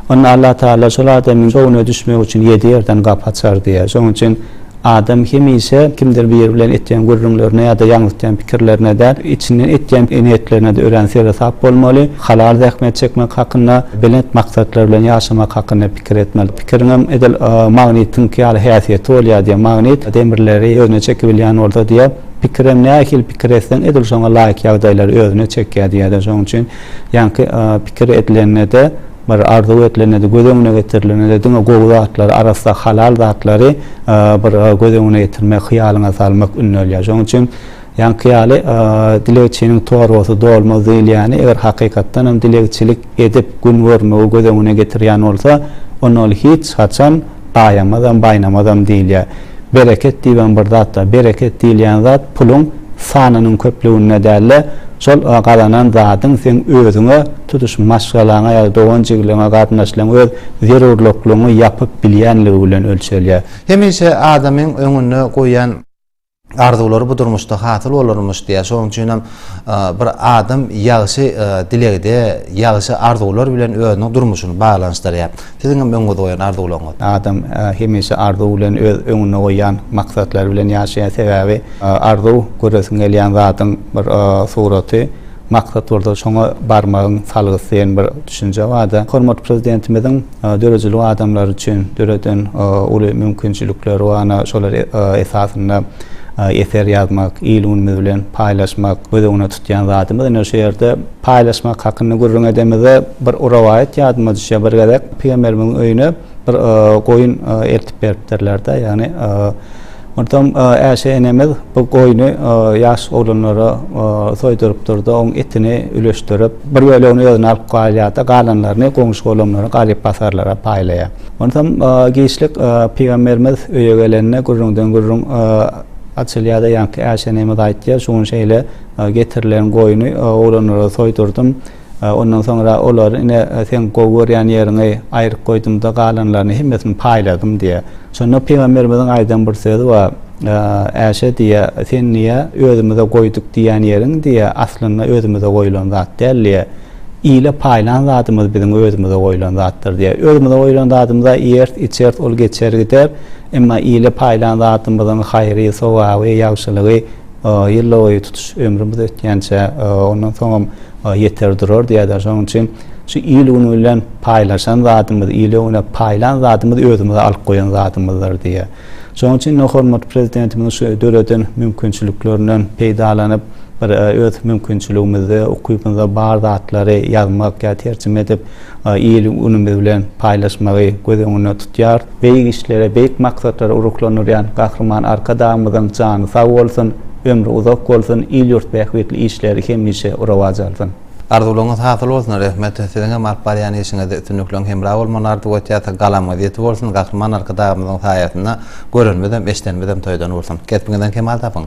Onda Allatagala şol adamyň şowuna düşmek üçin ýedi ýerden gapy açar diýýär. Şonuň üçin Adam hemişe kimdir biri bilen etýän gürrüňlerine ýa-da ýaňzytýan pikirlerine däl, içinden etýän niýetlerine-de örän seresap bolmaly, halal zähmet çekmek hakynda, belent maksatlar bilen ýaşamak hakynda pikir etmeli. Pikiriňem edil magnitiňki ýaly häsiýeti bolýar diýýär. Magnit demirleri özüne çekibilýän bolsa diýýär, pikirem nähili pikir etseň edil şoňa laýyk ýagdaýlary özüne çekýär diýýär-de. Şonuň üçin ýaňky pikir edilende-de, Bir arzuw edilende-de, göz öňüne getirilende-de diňe gowy zatlary, arassa, halal zatlary bir göz öňüne getirmek, hyýalyňa salmak ündälýär. Şonuň üçin, ýaňky ýaly, Dilegçiniň torbasy dolmaz diýilýäni, eger hakykatdan hem dilegçilik edip gün görmegi göz öňüne getirýän bolsa, onda ol hiç haçan aýamazam, baýnamazam diýilýär. Bereket diýip hem bir zat bar. Bereket diýilýän zat puluň sanynyň köplüginde däl-de, şol gazanan zadyň seň özüňe, Tutuş maşgalaňa ýa-da dogan-jigiliňe, garyndaşlaryňa öz zerurlyklygyňy ýapyp bilýänligi bilen ölçelýär. Hemişe adamyň öňünde goýýan arzuwlary bu durmuşda hasyl bolarmyş diýýär. Şonuň üçin hem bir adam ýagşy dilegde, ýagşy arzuwlar bilen özüniň durmuşyny baglanyşdyrýar. Siziň hem öňüňizde goýan arzuwlaryňyz? Adam hemişe arzuw bilen, öz öňünde goýýan maksatlary bilen ýaşaýar. Sebäbi arzuw göresiň gelýän zadyň bir suraty. Maksat bolsa şoňa barmagyň salgysy diýen bir düşünje bar-da. Hormatly Prezidentimiziň döredijilik adamlar üçin döreden uly mümkinçilikleri bar, ana, şolar esasynda eser ýazmak, il-günümiz bilen paýlaşmak göz öňünde tutýan zadymyz. Ine, şu ýerde paýlaşmak hakynda gürrüň edemizde, bir rowaýat ýadyma düşýär. Bir gezek pygamberimiziň öýüne. Bir goýun eltip beripdirler-de, ýagny onsoň Äşe enemiz bu goýny ýaş oglanlara soýdurypdyr-da, oň etini üleşdirip, bir bölegini özüne alyp galýar-da, galanlaryny goňşy-golamlara, garyp-gasarlara paýlaýar. Onsoň giçlik pygamberimiz öýe gelende gürrüňden gürrüň açylýar-da, ýaňky Äşe enemiz aýtýar, şu gün şeýle getirilen goýny oglanlara soýdurdym. Ondan soňra olar ine seň gowy görýän ýeriňi aýryp goýdum-da galanlaryny hemmesini paýladym diýýär. Şonda pygamberimiziň aýdan bir sözi bar, Äşe diýýär, sen diýýär, özümize goýduk diýýän ýeriň diýýär, aslynda özümize goýlan zat däl diýýär. Ile paýlan zadymyz biziň özümize goýlan zatdyr diýýär. Özümize goýlan zadymyz-a iýeris, içeris, ol geçer gider. Emma ile paýlan zadymyzyň haýry, sogaby, ýagşylygy, Ýyllarboýy tutuş ömrümiz ötýänçä, ondan soňam ýeter durar diýýärler. Şonuň üçin şu il-gün bilen paýlaşan zadymyz, ile-güne paýlan zadymyz özümize alyp goýan zadymyzdyr diýýär. Şonuň üçin-de hormatly Prezidentimiziň şu döreden mümkinçiliklerinden peýdalanyp, bir öz mümkinçiligimizde, ukybymyzda bar zatlary ýazmak ýa terjime edip, il ulumy bilen paýlaşmagy göz öňünde tutýar. Beýik işlere, beýik maksatlara ruhlandyrýan Gahryman Arkadagymyzyň jany sag bolsun, ömri uzak bolsun, il-ýurt bähbitli işleri hemişe rowaç alsyn! Arzuwlaryňyz hasyl bolsun Rehmet siziň hem alyp barýan işiňizde üstünlikleriň hemra bolmagyny arzuw etýäs galamyňyz ýiti bolsun Gahryman Arkadagymyzyň saýasynda görenimizem eşdenimizem toýdan bolsun Kesbiňizden kemal tapyň.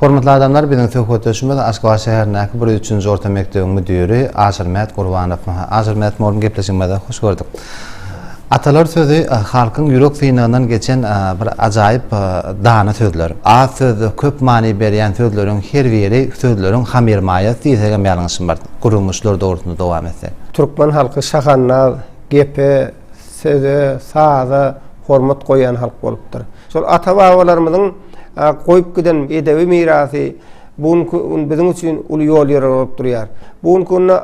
Hormatly adamlar, biziň söhbetdeşimiz Aşgabat şäherindäki bir üçünji orta mekdebiň müdiri Aşyrmät Gurbanow. Aşyrmät mugallym gepleşigimize hoş gördük. Atalar sözi halkyň ýürek synagyndan geçen bir ajaýyp dana sözler. Az sözde köp many berýän sözleriň her biri sözleriň hamyrmaýasy diýsegem ýalňyşmarys. Gürrüňişler dogrusynda dowam etsek. Türkmen halky şahannaz, gepe, söze, saza hormat goýýan halk bolupdyr. Şol ata-babalarymyzyň goýup giden edebi mirasy bu günki gün biziň üçin uly ýolýorar bolup durýar. Bu günki günde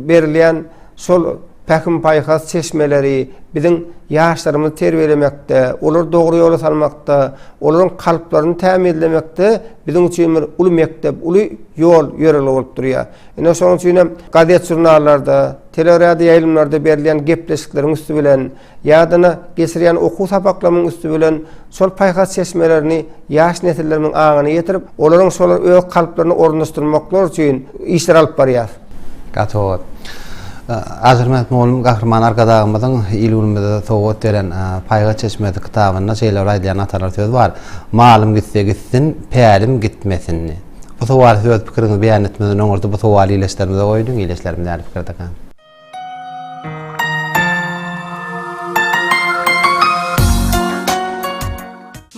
berilýän şol pähim-paýhas çeşmeleri biziň ýaşlarymyzy terbiýelemekde, olary dogry ýola salmakda, olaryň kalplaryny tämizlemekde biziň üçin bir uly mekdep, uly ýol ýörelge bolup durýar. Ine, şonuň üçin hem gazet-žurnallarda, teleradioýaýlymlarda berilýän gepleşikleriň üsti bilen, Ýadyna geçirýän okuw sapaklamyň üsti bilen şol paýhas çeşmelerini ýaş nesillerimiň aňyna ýetirip, olaryň şolar öz kalplaryna ornaşdyrmaklary üçin işler alyp barýas. Gatowy. Azermämmet mugallym Gahryman Arkadagymyzyň il-günümize sowgat beren Paýhas çeşmesi kitabynda şeýle bir aýdylýan atalar söz bar, Malym gitse gitsin, pälim gitmesin diýip. Bu sowal söz pikiriňizi beýan etmezden öň orta bu sowaly ileçlerimize goýduň, ileçlerimiz nähili pikirdekä?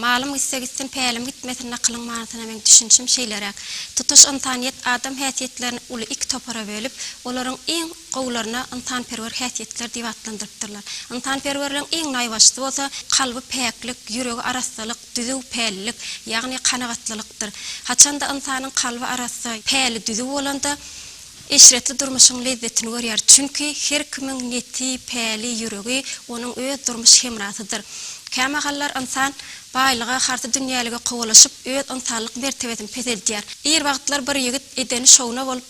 Malym gitse gitsin, pälim gitmesin nakylyň manysyna meň düşünişim şeýleräk. Tutuş ynsanyýet adam häsiýetlerini uly iki topara bölüp, olaryň iň gowularyna ynsanperwer häsiýetler diýip atlandyrypdyrlar. Ynsanperwerligiň iň naýbaşysy bolsa, kalby päklik, ýüregi arassalyk, düzüw pällik, ýagny kanagatlylykdyr. Haçan-da ynsanyň kalby arassa, päli düzüw bolanda, Eşretli durmuşyň lezzetini görýär, çünki her kimiň neti, päli, ýüregi onuň öz durmuş hemrasydyr. Kämahallar ynsan baýlyga, harsy dünýälige kowalaşyp, öz ynsanlyk mertebesini peseldýär. Ir wagtlar bir ýigit edeni şowuna bolup,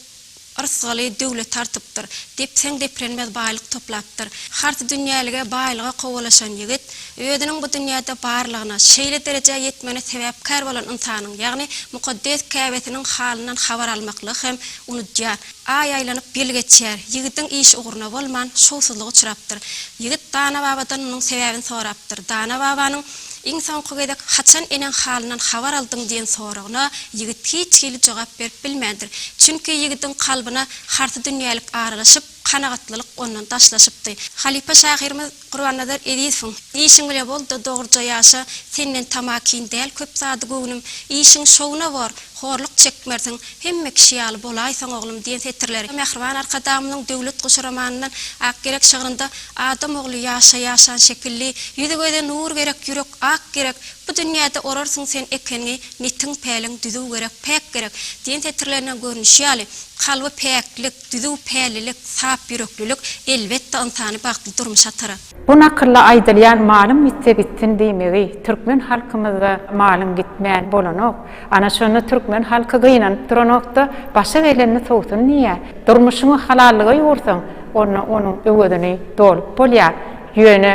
yrsgaly döwlet artypdyr, depseň deprenmez baýlyk toplapdyr. Harsy dünýälige, baýlyga kowalaşan ýigit Özüniň bu dünýäde barlygyna, şeýle derejä ýetmegine sebäpkär bolan ynsanyň, ýagny mukaddes Käbesiniň halyndan habar almaklygy hem unudýar. Aý aýlanyp, ýyl geçýär. Ýigidiň iş ugruna bolman, şowsuzlyk uçrapdyr. Ýigit Dana babadan munuň sebäbini sorapdyr. Dana babanyň Iň soňky gezek haçan eneň halyndan habar aldyň diýen soragyna ýigit hiç hili jogap berip bilmändir. Çünki ýigidiň kalbyna harsydünýälik aralaşyp, kanagatlylyk ondan daşlaşypdy. Halypa şahyrymyz Gurbannazar Ezizowyň Işiň bile bol-da dogruja ýaşa, senden tamakin däl köp zady göwnüm, işiň şowuna bor, horluk çekmersiň, hemme kişi ýaly bolaýsaň oglum diýen setirleri Mähriban Arkadagymyzyň Döwlet guşy romanyndan Ak gerek şygrynda Adam ogly ýaşa ýaşan şekilli, Ýüzi-göze nur gerek, ýürek ak gerek, Bu dünýäde orarsyň sen ekenňi, Netiň-päliň düzüw gerek, päk gerek diýen setirlerinden görnüşi ýaly, kalby päklik, Düzüw, pälilik, sap ýüreklilik, elbetde, ynsany bagtly durmuşa atar. Bu nakylda aýdylýan malyň gitse gitsin diýmegi, türkmen halkymyzda malyň gitmän bolanok, ana şonda türkmen halky gynanyp duranok-da, başa gelenini sowsun diýýär. Durmuşyňy halallyga ýugursaň, onda onuň öwezini dolup bolýar. Ýöne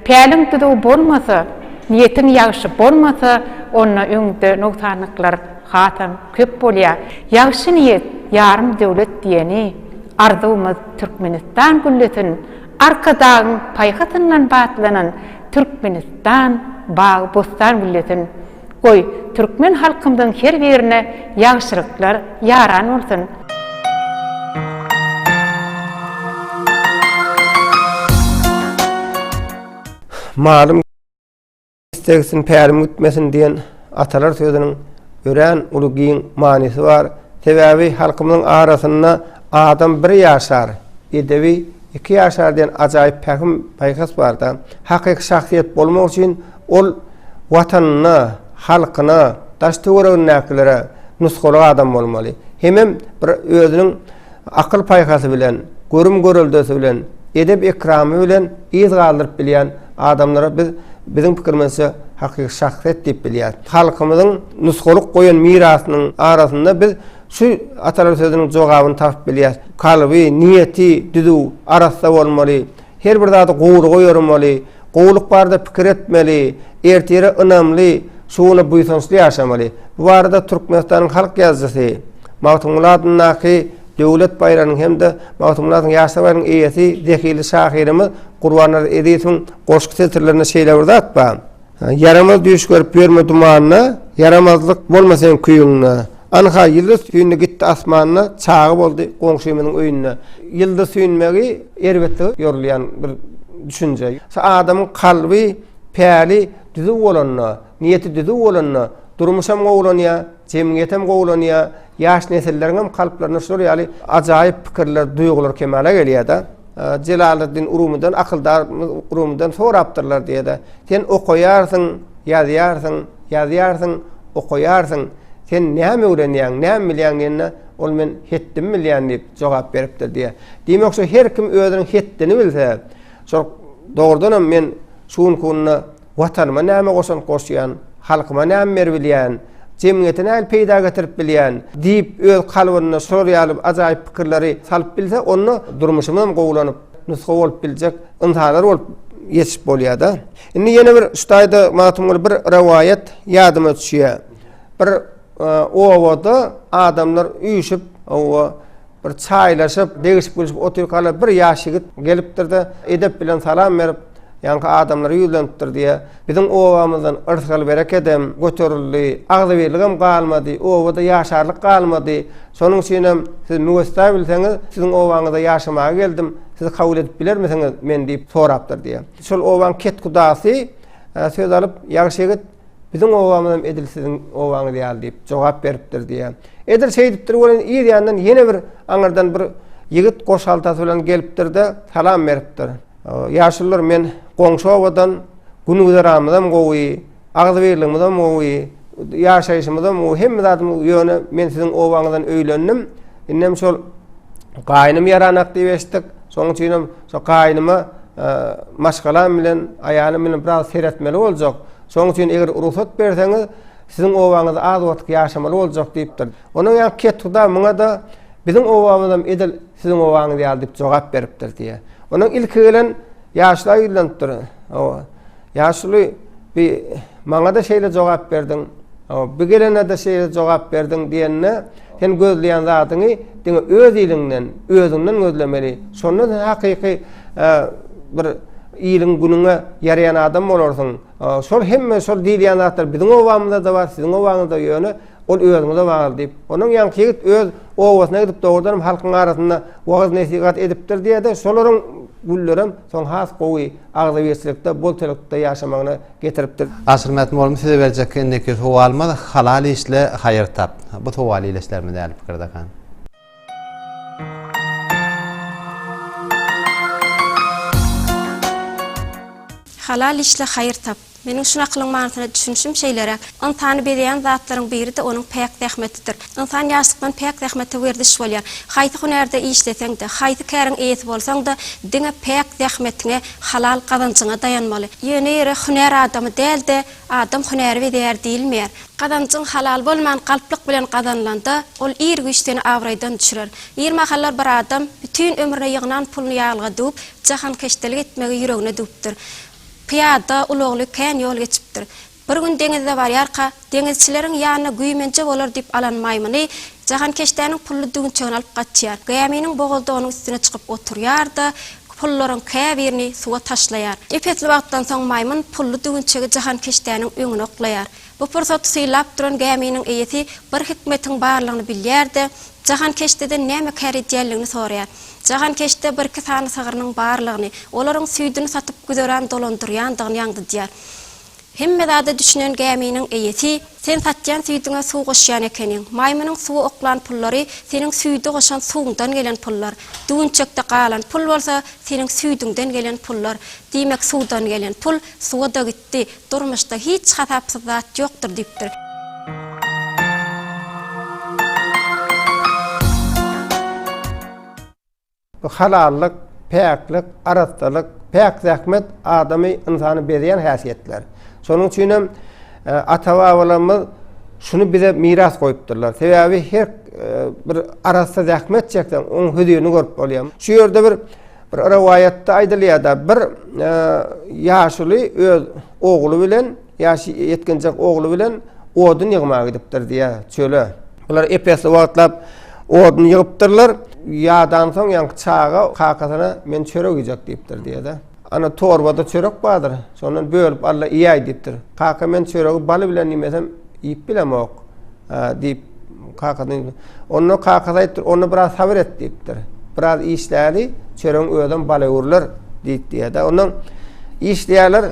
päliň düzüw bolmasa, niýetiň ýagşy bolmasa, onda öňde nogsanlyklar. Hasam köp bolýa. Ýagşy niýet ýarym döwlet diýeni arzuwymyz Türkmenistan güllesin, Arkadagyň paýhasyndan batlanan Türkmenistan bagy bossan güllesin. Goý, türkmen halkymyzyň her birine ýagşylyklar ýaran bolsun! Malym. Istegsin, pälim gitmesin diýen atalar sözüniň örän uly giň manysy bar. Sebäbi halkymyzyň arasynda Adam bir ýaşar, edebi iki ýaşar diýen ajaýyp pähim, paýhas bar-da. Hakyky şahsyýet bolmak üçin ol Watanyna, halkyna, daş-töweregindäkilere nusgalyk adam bolmaly. Hemem bir özüniň. akyl-paýhasy bilen, görüm-göreldesi bilen, edep-ekramy bilen yz galdyryp bilýän adamlara biz, biziň pikirimizçe, hakyky şahsyýet diýip bilýäris. Halkymyzyň nusgalyk goýan mirasynyň arasynda biz şu atalar sözüniň jogabyny tapyp bilýäris, Kalby, niýeti düzüw, arassa bolmaly. Her bir zady gowulyga ýoramaly, gowulyk barada pikir etmeli, ertire ynamly, şu güne buýsançly ýaşamaly. Bu barada Türkmenistanyň halk ýazyjysy, Magtymguly adyndaky Döwlet baýragynyň hem-de Magtymguly atly ýaşlar baýragynyň eýesi, zehili şahyrymyz Gurbannazar Ezizowyň goşgy setirlerinde şeýle bir zat bar. Ýaramaz düýş görüp ýörme dumanda, Ýaramazlyk bolmasyn küýüňde. Anha ýyldyz süýndi gitdi asmanda, Çaga boldy goňşymyzyň öýünde. Ýyldyz süýnmegi erbetlige ýorulýan bir düşünje. Adamyň kalby, päli düzüw bolanda, niýeti düzüw bolanda durmuşam gowulanýar. Jemgyýetem gowulanýar, ýaş nesilleriňem kalplarynda şular ýaly ajaýyp pikirler, duýgular kemala gelýär-de. Jelaleddin Rumydan, akyldar Rumydan sorapdyrlar diýe-de, Sen okaýarsyň, ýazýarsyň, ýazýarsyň, okaýarsyň, sen näme öwrenýäň, näme bilýäň diýende, ol Men hetdimi bilýän diýip jogap beripdir diýýär. Diýmek, şu her kim özüniň hetdini bilse, şol dogrudanam men şu günki günde Watanyma näme goşant goşýan, halkyma näme berbilýän, jemgyýete nähili peýda getirip bilýän diýip, öz kalbynda şular ýaly ajaýyp pikirleri salyp bilse, onda durmuşymy hem gowulanyp, nusga bolup biljek ynsanlar bolup ýetişip bolýar-da. Indi ýene bir şu taýda Magtymguly bir rowaýat ýadyma düşýär. Bir obada adamlar üýşüp, oba bir çaýlaşyp, degişip-gülüşip otyrkalar bir ýaş ýigit gelipdir-de, edep bilen salam berip, Ýaňky adamlar ýüzlenipdir diýe, biziň obamyzdan yrsgal berekedem göterildi, agzybirligem galmady, obada ýaşarlyk galmady. Şonuň üçinem siz müwessa bilseňiz, siziň obaňyza ýaşamaga geldim, siz kabul edip bilermisiňiz meni diýip sorapdyr diýe. Şol obaň ketgudasy söz alyp, Ýagşyýigit, Biziň obamyzam edil siziň obaňyz ýaly diýip jogap beripdir diýýär. Edil şeýdipdir welin ir ýandan ýene bir aňyrdan bir ýigit goş haltasy bilen gelipdir-de, salam beripdir. Ýaşulylar men goňşy obadan, gün-güzeranymyzam gowy, agzybirligimizem gowy, ýaşaýşymyzam gowy, hemme zadymyz, ýöne men siziň obaňyzdan öýlendim. Indem şol gaýnym ýaranak diýip eşitdik. Şonuň üçinem Şo gaýynyma maşgalam bilen, aýalym bilen biraz seretmeli boljak. Şonuň üçin eger rugsat berseňiz, siziň obaňyzda az wagtyk ýaşamaly boljak diýipdir. Ondan ýaňky kethuda muňa-da Biziň obamyzam edil siziň obaňyz ýaly diýip jogap beripdir diýýär. Ondan ilki gelen ýaşlar ýüzlenipdir. Ýaşuly, bi, maňa-da şeýle jogap berdiň, bi gelene-de şeýle jogap berdiň diýende, sen gözleýän zadyňy diňe öz iliňden, özüňden gözlemeli. Şonda sen hakyky bir iliň-günüňe ýaraýan adam bolarsyň. Şol hemme şol diýilýän zatlar biziň obamyzda-da bar, siziň obaňyzda, ýöne, Ol özüňize bagyr, diýip, onuň ýaňky ýigit öz obasyna gidip, dogrudanam halkyň arasynda wagyz-nesihat edipdir diýer-de, şolaryň güllerem soň has gowy agzybirçilikde, bolçalykda ýaşamagyna getiripdir. Asylmät molumy size berjek indiki sowalymyz, Halal işle, haýyr tap. Bu sowal iýleşlermi däl pikirdekan? Halal işle haýyr tap. Meniň şu nakylyň manysyna düşünişim şeýleräk, Ynsany bezeýän zatlaryň biri-de onuň päk zähmetidir. Ynsan ýaşlykdan päk zähmete werziş bolýar. Haýsy hünärde işleseň-de, haýsy käriň eýesi bolsaň-da, diňe päk zähmetiňe, halal gazanjyňa daýanmaly. Ýöne ýere hünär adamy däl-de, Adam hünäri bezäýer diýilmeýär. Gazanjyň halal bolman galplyk bilen gazanylanda, ol ir güýç seni abraýdan düşürer. Bir mahallar bir adam bütin ömrüne ýygnan puluny ýaglyga düwüp, jahankeşdelik etmegi ýüregine düwüpdir. Pyýada, ulagly kän ýol geçipdir. Bir gün deňizde barýarka, deňizçileriň ýanyna güýmenje bolar diýip alan maýmyny, jahankeşdäniň pully düwünçegini alyp gaçýar. Gäminiň bogazda onuň üstüne çykyp oturýar-da, pullaryň käbirini suwa taşlaýar. Ep-esli wagtdan soň maýmyn pully düwünçegi jahankeşdäniň öňüne oklaýar. Bu pursaty sylap duran gäminiň eýesi bir hikmetiň barlygyny bilýär-de, jahankeşdeden näme kär edýänligini soraýar. Jahankeşde birki sany sygrynyň barlygyny, olaryň süýdüni satyp güzeran dolandyrýandygyny ýaňzydýar. Hemme zada düşünen gäminiň eýesi, Sen satýan süýdüňe suw goşýan ekeniň. Maýmynyň suwa oklan pullary seniň süýde goşan suwuňdan gelen pullar. Düwünçekde galan pul bolsa, seniň süýdüňden gelen pullar. Diýmek, suwdan gelen pul suwa-da gitdi. Durmuşda hiç hasapsyz zat ýokdur diýipdir. Halallyk, päklik, arassalyk, päk zähmet adamy, ynsany bezän häsiýetler. Şonuň üçin hem ata-babalarymyz şuny bize miras goýupdyrlar. Sebäbi her bir arassa zähmet çekseň, oň hözirini görüp bolýar. Şu ýerde bir rowaýatda aýdylýar-da, bir ýaşuly öz ogly bilen, Ýaşy ýetginjek ogly bilen odun ýygmaga gidipdir, diýýär, çöle. Bular ep-esli wagtlap odun ýygypdyrlar. Ýadansoň, ýaňky çaga kakasyna men çörek iýjek diýipdir, diýýär-de. Ana, torbada çörek bardyr, şondan bölüp al-da iýäý, diýipdir. Kaka, men çöregi baly bilen iýmesem, iýip bilemok. Diýip, kakasyna. Onda kakasy aýdypdyr, Onda biraz sabyr et diýipdir. Biraz işläli, çöregiň özem bala öwrüler diýip diýýär-de. Ondan işleýärler,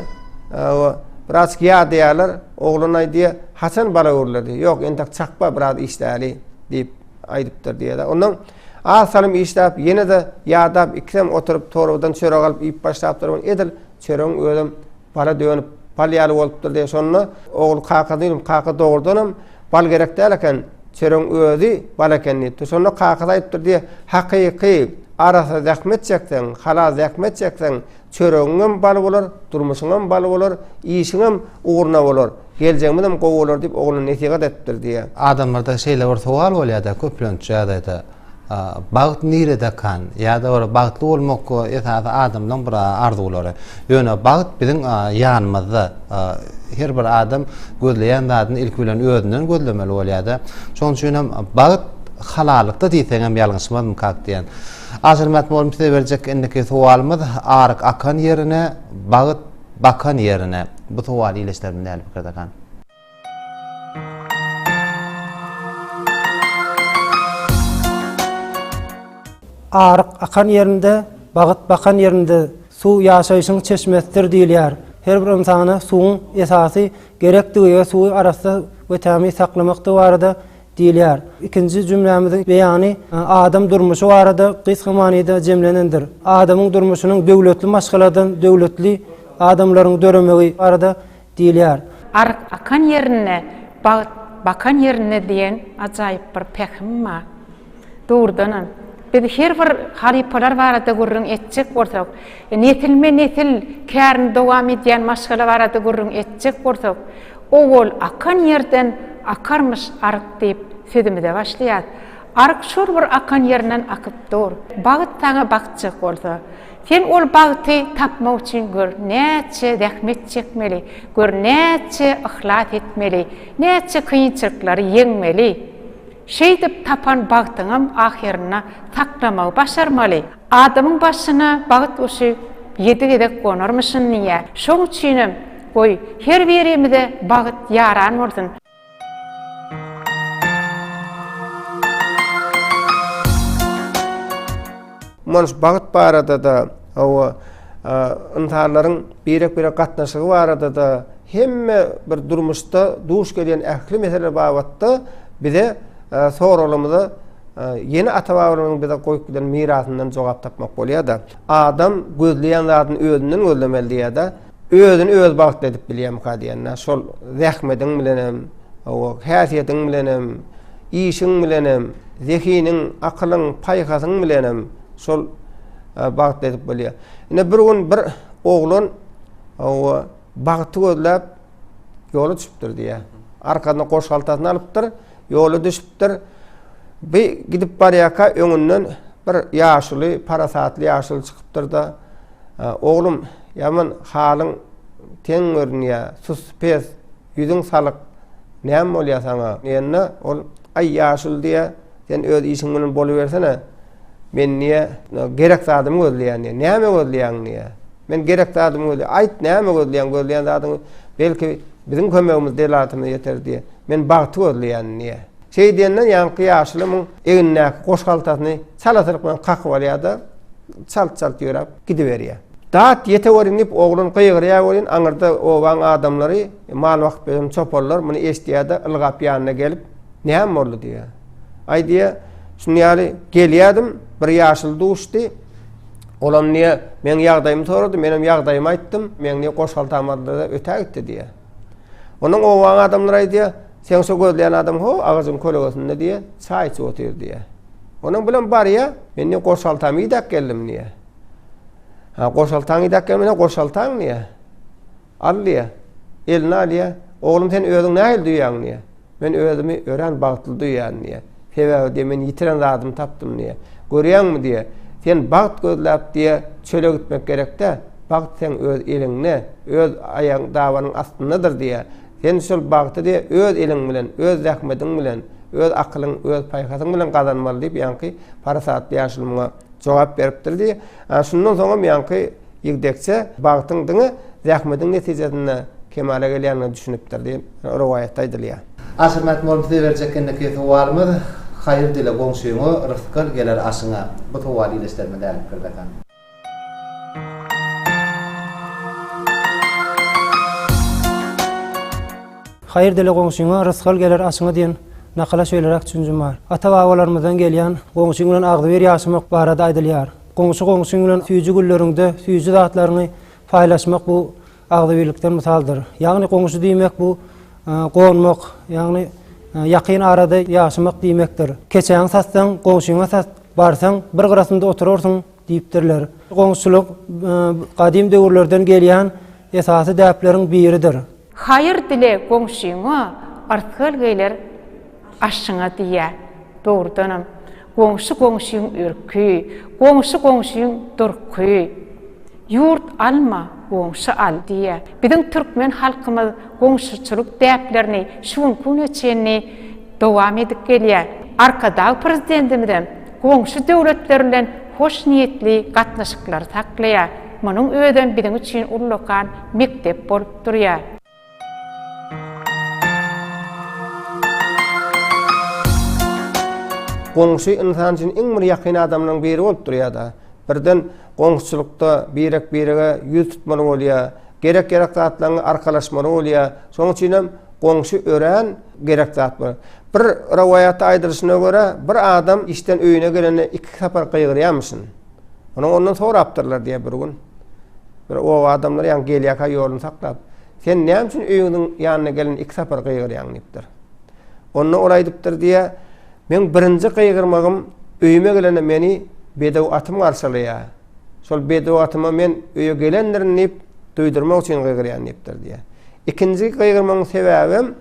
biraz ýadaýarlar. Oglan aýdýar, Haçan bala öwrüler diýip. Ýok, entek çakba biraz işläli diýip aýdypdyr diýýär-de. Ondan az salym işläp, ýene-de ýadap, ikisem oturyp torbadan çörek alyp iýip başlapdyr. Edil çöregiň özem Bala dönüp, bal ýaly bolupdyr diýen şonda, ogul kaka diýdim, kaka dogrudanam bal gerek däl eken, çöregiň özi bal eken diýipdir. Şonda kakasy aýdypdyr diýe, hakyky, arassa zähmet çekseň, halal zähmet çekseň, çöregiňem bal bolar, durmuşyňam bal bolar, işiňem ugruna bolar, geljegimizem gowy bolar diýip ogluna nesihat edipdir diýe. Adamlarda şeýle bir sowal bolýar-da, köplenç ýagdaýda, Bagt nirede kan? Ýa-da bir bagtly bolmak esasy adamlaň bir arzuwlary. Ýöne bagt biziň ýanymyzda. Her bir adam gözleýän zadyny ilki bilen özünden gözlemeli bolýar-da. Şonuň üçin hem bagt halalykda diýseň hem ýalňyşmazmyk kak diýen. Aşyrmat mugallym size berjek indiki sowalymyz aryk akan ýerine, bagt bakan ýerine. Bu sowal ileşlerimiz nähili pikirde kan? Aryk akan ýerinde, bagt bakan ýerinde suw ýaşaýşyň çeşmesidir diýilýär. Her bir ynsana suwuň esasy gerekdigi we suwy arassa we tämiz saklamakdygy barada diýilýär. Ikinji jümlämiziň beýany adam durmuşy barada gysga manyda jemlenendir. Adamyň durmuşynyň döwletli maşgaladan döwletli adamlaryň döremegi barada Diýilýär. Aryk akan ýerinde, bagt bakan ýerinde diýen ajaýyp bir pähim bar. Dogrudanam, biz her bir halypalar barada gürrüň etjek bolsak, nesilme-nesil kärini dowam edýän maşgala barada gürrüň etjek bolsak, Owal akan ýerden akarmyş aryk diýip sözümize başlaýarys. Aryk şol bir akan ýerinden akyp dur. Bagt saňa bakjak bolsa. Sen ol bagty tapmak üçin gör näçe zähmet çekmeli, gör näçe yhlas etmeli, näçe kynçylyklary ýeňmeli. Şeýdip tapan bagtyňam ahyrynda saklamagy başarmaly. Adamyň başyna bagt guşy ýedi gezek gonarmyşyn diýýär. Şoň üçinem, goý, her birimize bagt ýaran bolsun! Manyş bagt barada-da, hawa, ynsanlaryň birek-birege gatnaşygy barada-da, hemme bir durmuşda duş gelýän ähli meseleler babatda bize soraglarymyza ýene ata-babalarymyzyň bize goýup giden mirasyndan jogap tapmak bolýar-da. Adam gözleýän zadyny özünden gözlemeli diýýär-de. Özüni öz bagtly edip bilýärmika diýende, şol zähmediň bilenem, owa, häsiýetiň bilenem, işiň bilenem, zehiniň, akylyň, paýhasyň bilenem şol e, bagtly edip bolýar. Ine bir gün bir oglan owa, bagty gözläp ýola çypdyr diýýär. Arkasyna goşgaltasyny alypdyr. Ýola düşüpdir. Bi gidip barýarka öňünden bir ýaşuly, parasatly ýaşuly çykypdyr-da, Oglum, ýaman halyň teň görünýär, sus-pes, ýüzüň salyk, näme bolýar saňa? diýende, ol, Aý, ýaşuly diýýär, sen öz işiň bilen bolubersene. Men diýýär, gerek zadymy gözleýän diýýär. Näme gözleýäň diýýär. Men gerek zadymy gözleýän. Aýt, näme gözleýäň? Gözleýän zadyň belki biziň kömegimiz delatymyz ýeter diýýär. Men bagty gözleýän diýýär. Şeý diýenden ýaňky ýaşuly muň egnindäki goş haltasyny çalasylyk bilen kakyp alýar-da, çalt-çalt ýöräp gidiberýär. Dat ýete welin diýip oglan gygyrýar welin aňyrda obaň adamlary, mal bakyp ýören çoparlar muny eşidýär-de, ylgap ýanyna gelip, Näme boldy diýýä. Aý diýýä, şuny ýaly gelýädim, bir ýaşuly duşdy. Olam diýýä, meň ýagdaýymy sorady, menem ýagdaýymy aýtdym, meň diýýä goşhaltam bardyr-da ötä gitdi diýýä. Ondan obaň adamlary aýdýa, seň şo gözleýän adam ho, agajyň kölegesinde diýýä, çaý içip otyr diýýä. Onuň bilen barýa, men diýýä goşhaltamy idäp geldim diýýä. Ha, goşhaltaňy idäp gelmene goşhaltaň diýýä. Al, diýýär. Eline alýar. Oglum, sen özüňi nähili duýýaň? diýýär. Men özümi örän bagtly duýýan, diýýär. Sebäbi, diýýär, men ýitiren zadymy tapdym, diýýär. Görýäňmi, diýýär, sen bagt gözläp, diýýär, çöle gitmek gerek-dä. Bagt seň öz eliňde, öz aýagyň dabanyň astyndadyr, diýýär. Sen şol bagty, diýýär, öz eliň bilen, öz zähmediň bilen, öz akylyň, öz paýhasyň bilen gazanmaly, diýip, ýaňky parasatly ýaşuly muňa jogap beripdir diýip, ana şundan soňam ýaňky ýigdekçe bagtyň diňe zähmetiň netijesinde kemala gelýändigine düşünipdir diýip, rowaýatda aýdylýar. Aşyrmak bolup size berjek enekey sowalymyz, Haýyr dile goňşyňa, rysky al geler aşyňa. Bu sowal ileslerime dälipdir desem. Haýyr dile goňşyňa, rysgal geler aşyňa diýen nakala şeýleräk düşünjim bar. Ata-babalarymyzdan gelýän Goňşyň bilen agzybir ýaşamak barada aýdylýar. Goňşy goňşyň bilen süýji günleriňde süýji zatlaryňy paýlaşmak bu agzybirlikden mysaldyr. Ýagny goňşy diýmek bu gonmak, ýagny ýakyn arada ýaşamak diýmekdir. Keçäňi satsaň, goňşyňa sat, barsaň, bir gyrasynda oturarsyň diýipdirler. Goňşuçylyk gadym döwürlerden gelýän esasy däpleriň biridir. Haýyr dile goňşyňa, ysgal geler aşyňa diýýär. Dogrudanam, goňşy goňşyň ürki, goňşy goňşyň durky. Ýurt alma, goňşy al diýýär. Biziň türkmen halkymyz goňşuçylyk däplerini şu günki güne çenli dowam edip gelýär. Arkadag Prezidentimizem goňşy döwletler bilen hoşniýetli gatnaşyklary saklaýar. Munuň özem biziň üçin ullakan mekdep bolup durýar. Goňşy ynsan üçin iň bir ýakyn adamlaryň biri bolup durýar-da. Birden goňşuçylykda birek-birege ýüz tutmaly bolýar. Gerek-gerek zatlaryňy arkalaşmaly bolýar. Şonuň üçinem goňşy örän gerek zat bu. Bir rowaýatda aýdylyşyna görä, bir adam işden öýüne gelende iki sapar gygyrýarmyşyn. Onuň ondan sorapdyrlar diýe bir gün. Bir oba adamlary ýaňy gelýärkä ýoluny saklap, Sen näme üçin öýüňiziň ýanyna gelen iki sapar gygyrýaň diýipdir. Onda ol aýdypdyr diýe, Meň birinji gygyrmagym öýüme gelende meni bedew atym garşalaýar. Şol bedew atyma men öýe gelendirin diýip duýdurmak üçin gygyrýan diýipdir diýe. Ikinji gygyrmagyň sebäbem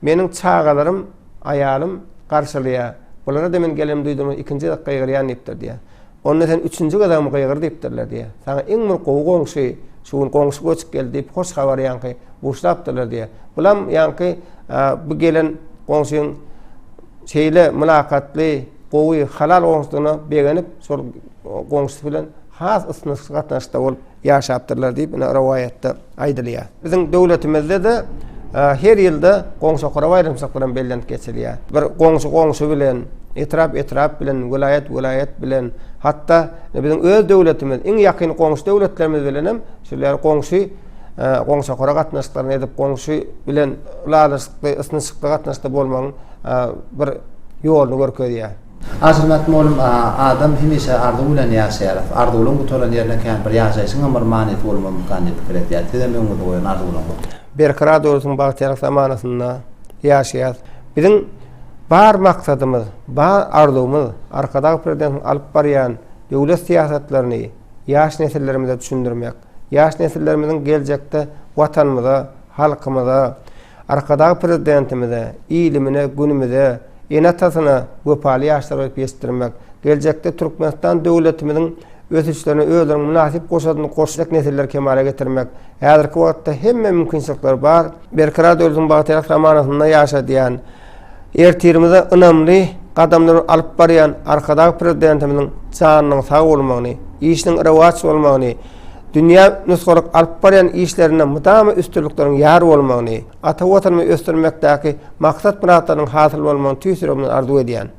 meniň çagalarym, aýalym garşalaýar. Bulara-da men gelenimi duýdurmak ikinji gezek gygyrýan diýipdir diýe. Onda sen üçünji gezegmi gygyr diýipdirler diýýär. Saňa iň bir gowy goňşy, şu gün goňşy göçüp geldi diýip, hoş habary ýaňky buşlapdyrlar diýýär. Bulam ýaňky bu gelen goňşyň şeýle mylakatly, gowy, halal goňşudygyna begenip, şol goňşusy bilen has ysnyşykly gatnaşykda bolup, Ýaşapdyrlar diýip ine rowaýatda aýdylýar. Biziň döwletimizde-de her ýylda goňşy okara baýramçylyk bilen bellenip geçilýär. Bir goňşy goňşy bilen, etrap etrap bilen, welaýat welaýat bilen, hatda biziň öz döwletimiz, iň ýakyn goňşy döwletlerimiz bilenem şol ýaly goňşy goňşy okara gatnaşyklaryny edip, goňşy bilen ylalaşykly, ysnyşykly gatnaşykda bolmagyň bir ýoluny görkezýär. Ajyrmat molum a adam hemişe arzuw bilen ýaşaýar. Arzuwlaň gutaran ýerine kän bir ýaşaýşyňam bir manysy bolmazmykan diýip pikir etýär. Sizem öňüňizde goýan arzuwlaňyz. Berkarar döwletiň bagtyýarlyk zamanasynda ýaşaýas. Biziň bar maksadymyz, bar arzuwymyz Arkadag Prezidentiniň alyp barýan döwlet syýasatlaryny ýaş nesillerimize düşündirmek. Ýaş nesillerimiziň geljekde watanymyza, halkymyza, Arkadag Prezidentimize, ilimine, günümize, ene-atasyna wepaly ýaşlar berip ýetişdirmek, geljekde Türkmenistan döwletimiziň ösüşlerine özleriniň mynasyp goşadyny goşjak nesilleri kemala getirmek häzirki wagtda hemme mümkinçilikler bar. Berkarar döwletiň bagtyýarlyk zamanasynda ýaşadýan Ertirimize ynamly gadamlary alyp barýan Arkadag Prezidentimiziň janynyň sag bolmagyny, işiniň rowaç bolmagyny, dünýä nusgalyk alyp barýan işlerinde mydama üstünlikleriň ýar bolmagyny, ata Watanymy ösdürmekdäki maksat-myratlarynyň hasyl bolmagyny tüýs ýüregimden arzuw edýän.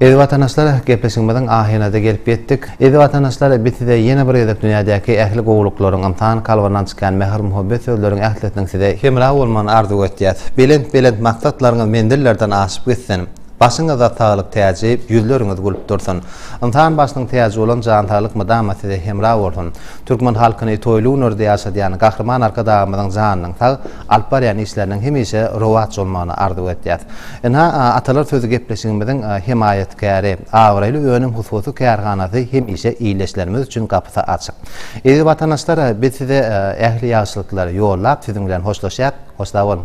Eziz watandaşlar gepleşigimiziň ahyryna-da gelip ýetdik. Eziz watandaşlar biz size ýene bir gezek dünýädäki ähli gowulyklaryň, ynsan kalbyndan çykýan mähir-muhabbet sözleriň ählisiniň size hemra bolmagyny arzuw etýäs. Belent belent maksatlaryňyz menzillerden aşyp gitsin. Başyňyzda saglyk täji, ýüzleriňiz gülüp dursun. Ynsan başynyň täji bolan jan saglyk mydama size hemra bolsun. Türkmen halkyny toýly günlerde ýaşadýan Gahryman Arkadagymyzyň janynyň sag, alyp barýan işleriniň hemişe rowaç bolmagyny arzuw edýäs. Ynha, Atalar sözi gepleşigimiziň hemaýatkäri, Abraýly önüm hususy kärhanasy hemişe ildeşlerimiz üçin gapysy açyk. Eziz watandaşlar, biz size ähli ýagşylyklary ýollap, siziň bilen hoşlaşýas. Hoşsag boluň!